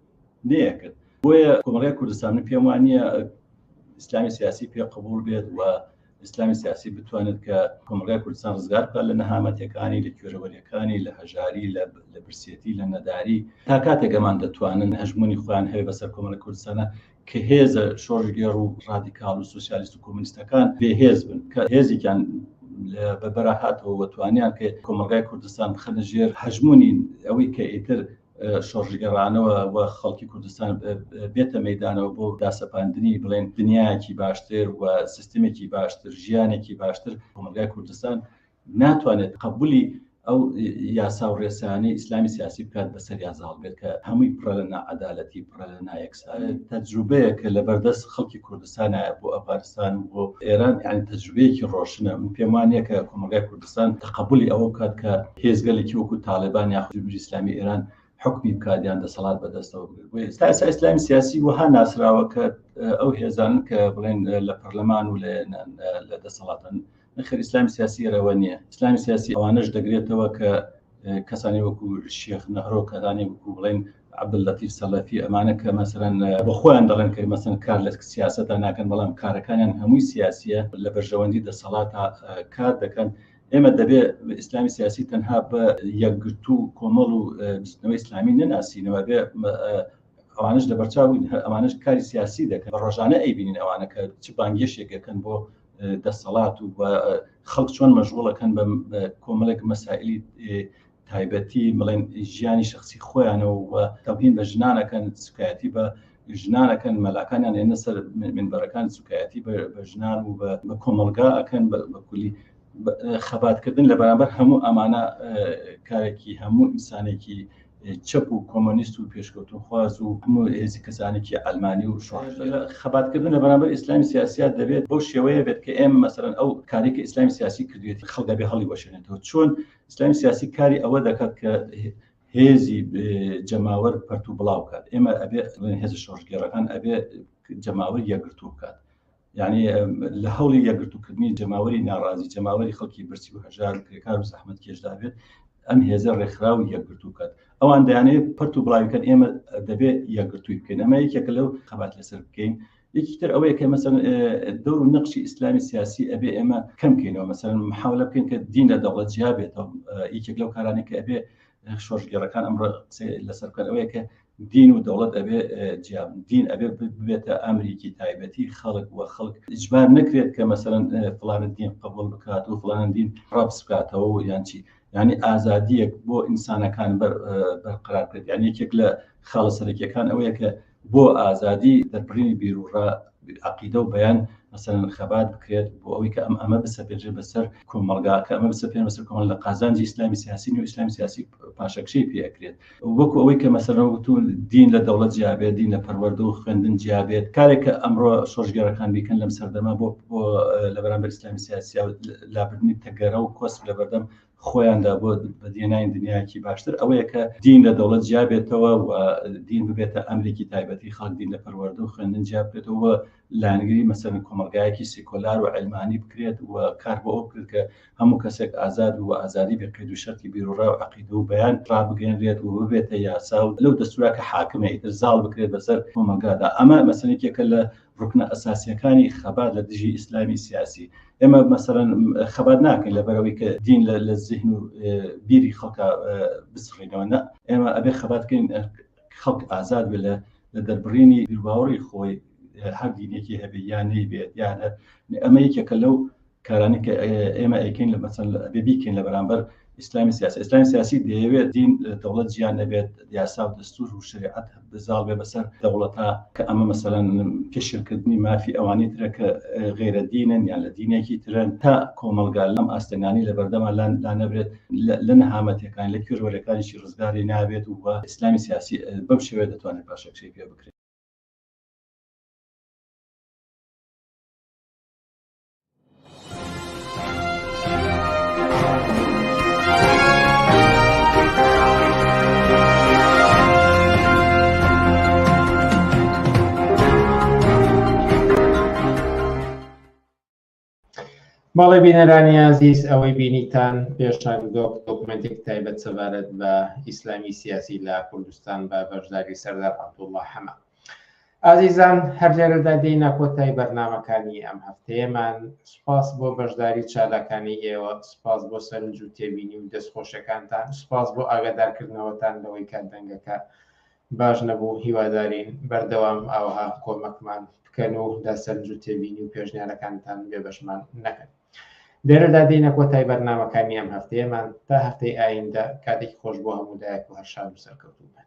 نەیەکرد بۆیە کۆمەڵی کوردستان و پێم وانە ئیسلامی سیاسی پێ قبول بێت و ئیسلامی سیاسی بتوانێت کە کۆمەڵگای کوردستان ڕزگار بکە لە نەهامەتەکانی لە کوێرەوەریەکانی لە هەژاری لە برسێتی لە نەداری تا کاتێک ئەمان دەتوانن هەژمونی خۆیان هەیە بەسەر کۆمەڵی کوردستانە کە هێزە شۆڕشگێڕ و ڕادیکاڵ و سۆسیالیست و کۆمۆنیستەکان بێهێز بن، کە هێزێکیان لە بەربەرا هاتەوە و توانیان کە کۆمەڵگای کوردستان بخەنە ژێر هەژموونی ئەوەی کە ئیتر شۆڕشگێڕانەوە و خەڵکی کوردستان بێتە مەیدانەوە بۆ داسەپاندنی بڵێن دنیایەکی باشتر و سیستمێکی باشتر، ژیانێکی باشتر کۆمەڵگای کوردستان ناتوانێت قەبولی ئەو یاسا و ڕێسانەی ئیسلامی سیاسی بکات بەسەر یا زاڵ بێت کە هەمووی پڕە لە ناعادالەتی پڕە لە نایەکسان تەجروبەیە کە لە بەردەست خەڵکی کوردستانایە بۆ ئەفغانستان و بۆ ئێران یان تەجروبەیەکی ڕۆشنە من پێم وانە کە کۆمەلگای کوردستان تەقبولی ئەوە بکات کە هێزگەلێکی وەکو تاالبان یا خودبیری ئسلامی ئێران حکمی بکاتیان دەسەڵات بەدەستەوە بگرێت بۆ ئێستا ئستا ئسلامی سیاسی وەها ناسراوە کە ئەو هێزانن کە بڵێن لە پەرلەمان و لە دەسەڵاتن نەخێر ئیسلامی سیاسی رەوە نییە ئیسلامی سیاسی ئەوانش دەگرێتەوە کە کەسانی وەکو شێخ نەهرۆ کەدانی وەکو بڵێن عبدلەتی سەلەفی ئەمانە کە مەسەرەن بە خۆیان دەڵێن کە مەسن کار لە سیاستە ناکەن بەڵام کارەکانیان هەمووی سیاسیە لە بەرژەوەندی دەسەڵات کار دەکەن ئێمە دەبێ ئیسلامی سیاسی تەنها بە یەکگرتو و کۆمەڵ و بستنەوەی ئسلامی نەناسینەوە بێ ئەوانش لە بەرچاوین ئەمانش کاری سیاسی دەکەن ڕۆژانە ئەیبینین ئەوانەکە چ بانگێشێکەکەن بۆ دەسەڵات و خەڵک چۆن مەژغوڵەکەن بە کۆمەڵێک مەسائلی تایبەتی بڵێن ژیانی شخصی خۆیانەوە و تەبین بە ژنانەکەن سکایەتی بە ژنانەکەن مەلاکانیان لێنە سەر منبەرەکان سوکایەتی بە ژنان و بە کۆمەلگا ئەکەن بەکولی خەباتکردن لە بەرامبەر هەموو ئەمانە کارێکی هەموو ئینسانێکی چەپ و کۆمۆنیست و پێشکەوتنخواز و هەموو هێزی کەسانێکی عەلمانی و شۆڕش لە خەباتکردن لە بەرامبەر ئیسلامی سیاسییە دەبێت بەو شێوەیە بێت کە ئێمە مەسەلەن ئەو کارەی کە ئیسلامی سیاسی کردوێتی خەڵک دەبێ هەڵیوەشێنێتەوە چۆن ئیسلامی سیاسی کاری ئەوە دەکات کە هێزی جەماوەر پەرت و بڵاو بکات ئێمە ئەبێ هێز شۆڕشگێڕەکان ئەبێ جەماوەر یەکگرتوو بکات یعنی لە هەوڵی یەکگرتوکردنی جەماوەری ناڕازی جەماوەری خەڵکی برسی و هەژار کرێکار و زەحمت کێشدابێت ئەم هێزە ڕێکخراو یەکگرتووکات ئەوان دەیانێت پرت و بڵاویکەن ئێمە دەبێت یەکگرتووی بکەین ئەمە یەکێکە لەو خەبات لەسەر بکەین یەکیتر ئەوەیە کە مەسەن دەور و نەخشی ئیسلامی سیاسی ئەبێ ئێمە کەمکەینەوە مەسەن محاولە بکەین کە دین لە دەوڵەت جیا بێتەوە یەکێک لەو کارانێک کە ئەبێ شۆژگەڕەکان ئەمڕۆ قسەی لەسەر بکەن ئەوەیە کە دین و دەوڵەت ئەبێ جیا بن، دین ئەبێ ببێتە ئەمریکی تایبەتی خەڵک و خەڵک ئیجبار نەکرێت کە مەسەلەن فڵانە دین قبوڵ بکات و فڵانە دین ڕەفز بکاتەوە و یان چی یعنی ئازادیەک بۆ ئینسانەکان بەرقرار بکرێت یان یەکێک لە خاڵە سەرەکیەکان ئەوەیە کە بۆ ئازادی دەربڕینی بیرروڕا عەقیدە و بیان مەسەلەن خەبات بکرێت بۆ ئەوەی کە ئەم ئەمە بسەپێنرێت بەسەر کۆمەڵگا کە ئەمە بسەپێنرێت بەسەر کۆمەڵگا لە قازانجی ئیسلامی سیاسی نیو ئیسلامی سیاسی پاشەکشەی پێ ئەکرێت وەکو ئەوەی کە مەسەلەن وەکو دین لە دەوڵەت جیا بێت دین لە پەروەردە و خوێندن جیا بێت کارێک کە ئەمڕۆ شۆڕشگێڕەکان بیکەن لەم سەردەما بۆ بۆ لە بەرامبەر ئیسلامی سیاسی و لابردنی تەگەرە و کۆسپ لە بەردەم خۆیاندا بۆ بەدیهێنانی دنیایەکی باشتر ئەوەیە کە دین لە دەوڵەت جیا بێتەوە و دین ببێتە ئەمریکی تایبەتی خەڵک دین لە پەروەردە و خوێندن جیا بکرێتەوە و لایەنگری مەسەرن کۆمەلگایەکی سیکۆلار و علمانی بکرێت و کار بۆ ئەو بکرێت کە هەموو کەسێک ئازاد و ئازادی بێ قەید و شەرتی بیروڕا و عەقیدە و بەیان ڕابگەیەنرێت و ببێتە یاسا و لەو دەستورا کە حاکمە ئیتر زاڵ بکرێت بەسەر کۆمەلگادا ئەمە مەسەلێکێکە لە ڕوکنە ئەساسیەکانی خەبات لە دژی ئیسلامی سیاسی ئێمە مەسەرەن خەبات ناکەین لە بەرەوەی کە دین لە زیهن و بیری خەڵکە بسڕینەوە نە ئێمە ئەبێ خەباتکەین خەڵک ئازاد بێ لە لە دەربڕینی باوەڕی خۆی هەر دینێکی هەبێ یانەی بێت یانە ئەمە یەکێکە لەو کارانەی کە ئێمە ئەیکەین لە مەسەن ئەبێ بیکەین لە بەرامبەر ئیسلامی سیاسی ئیسلامی سیاسی دەیەوێت دین دەوڵەت جیان نەبێت یاسا و دەستور و شریعەت بزاڵ بێ بەسەر دەوڵەتا کە ئەمە مەسەلەن پێشلکردنی مافی ئەوانی ترە کە غێرە دینن یان لە دینێکی ترن تا کۆمەلگا لەم ئاستەنگانی لە بەردەما لان لا نەبرێت لە نەهامەتەکان لە کوێرەکانیی ڕزگاری نابێت و ئیسلامی سیاسی بەم شێوێ دەتوانێت پاشەکشەی پێ بکرێت ماڵی بینەرانی عزیز ئەوەی بینیتان پێشتان دۆک دۆکمنتێک تایبەت سەبارەت بە ئیسلامی سیاسی لە کوردستان بە بەشداری سەردار عبدوڵڵا حەمە ئازیزان هەر لێرەدا دێینە کۆتای بەرنامەکانی ئەم هەفتەیەمان، سوپاس بۆ بەشداری چالاکانەی ئێوە، سوپاس بۆ سەرنج و تێبینی و دەست خۆشەکانتان، سوپاس بۆ ئاگادارکردنەوەتان لەوەی کە دەنگەکە باش نەبوو، هیوادارین بەردەوام ئاوەها کۆمەکمان بکەن و لە سەرنج و تێبینی و پێشنیارەکانتان بێبەشمان نەکەن. لێرەدا دێینە کۆتای بەرنامەکانی ئەم هەفتەیەمان، تا هەفتەی ئایندە، کاتێکی خۆش بۆ هەموو لایەک و هەر شاد و سەرکەوتوو بن.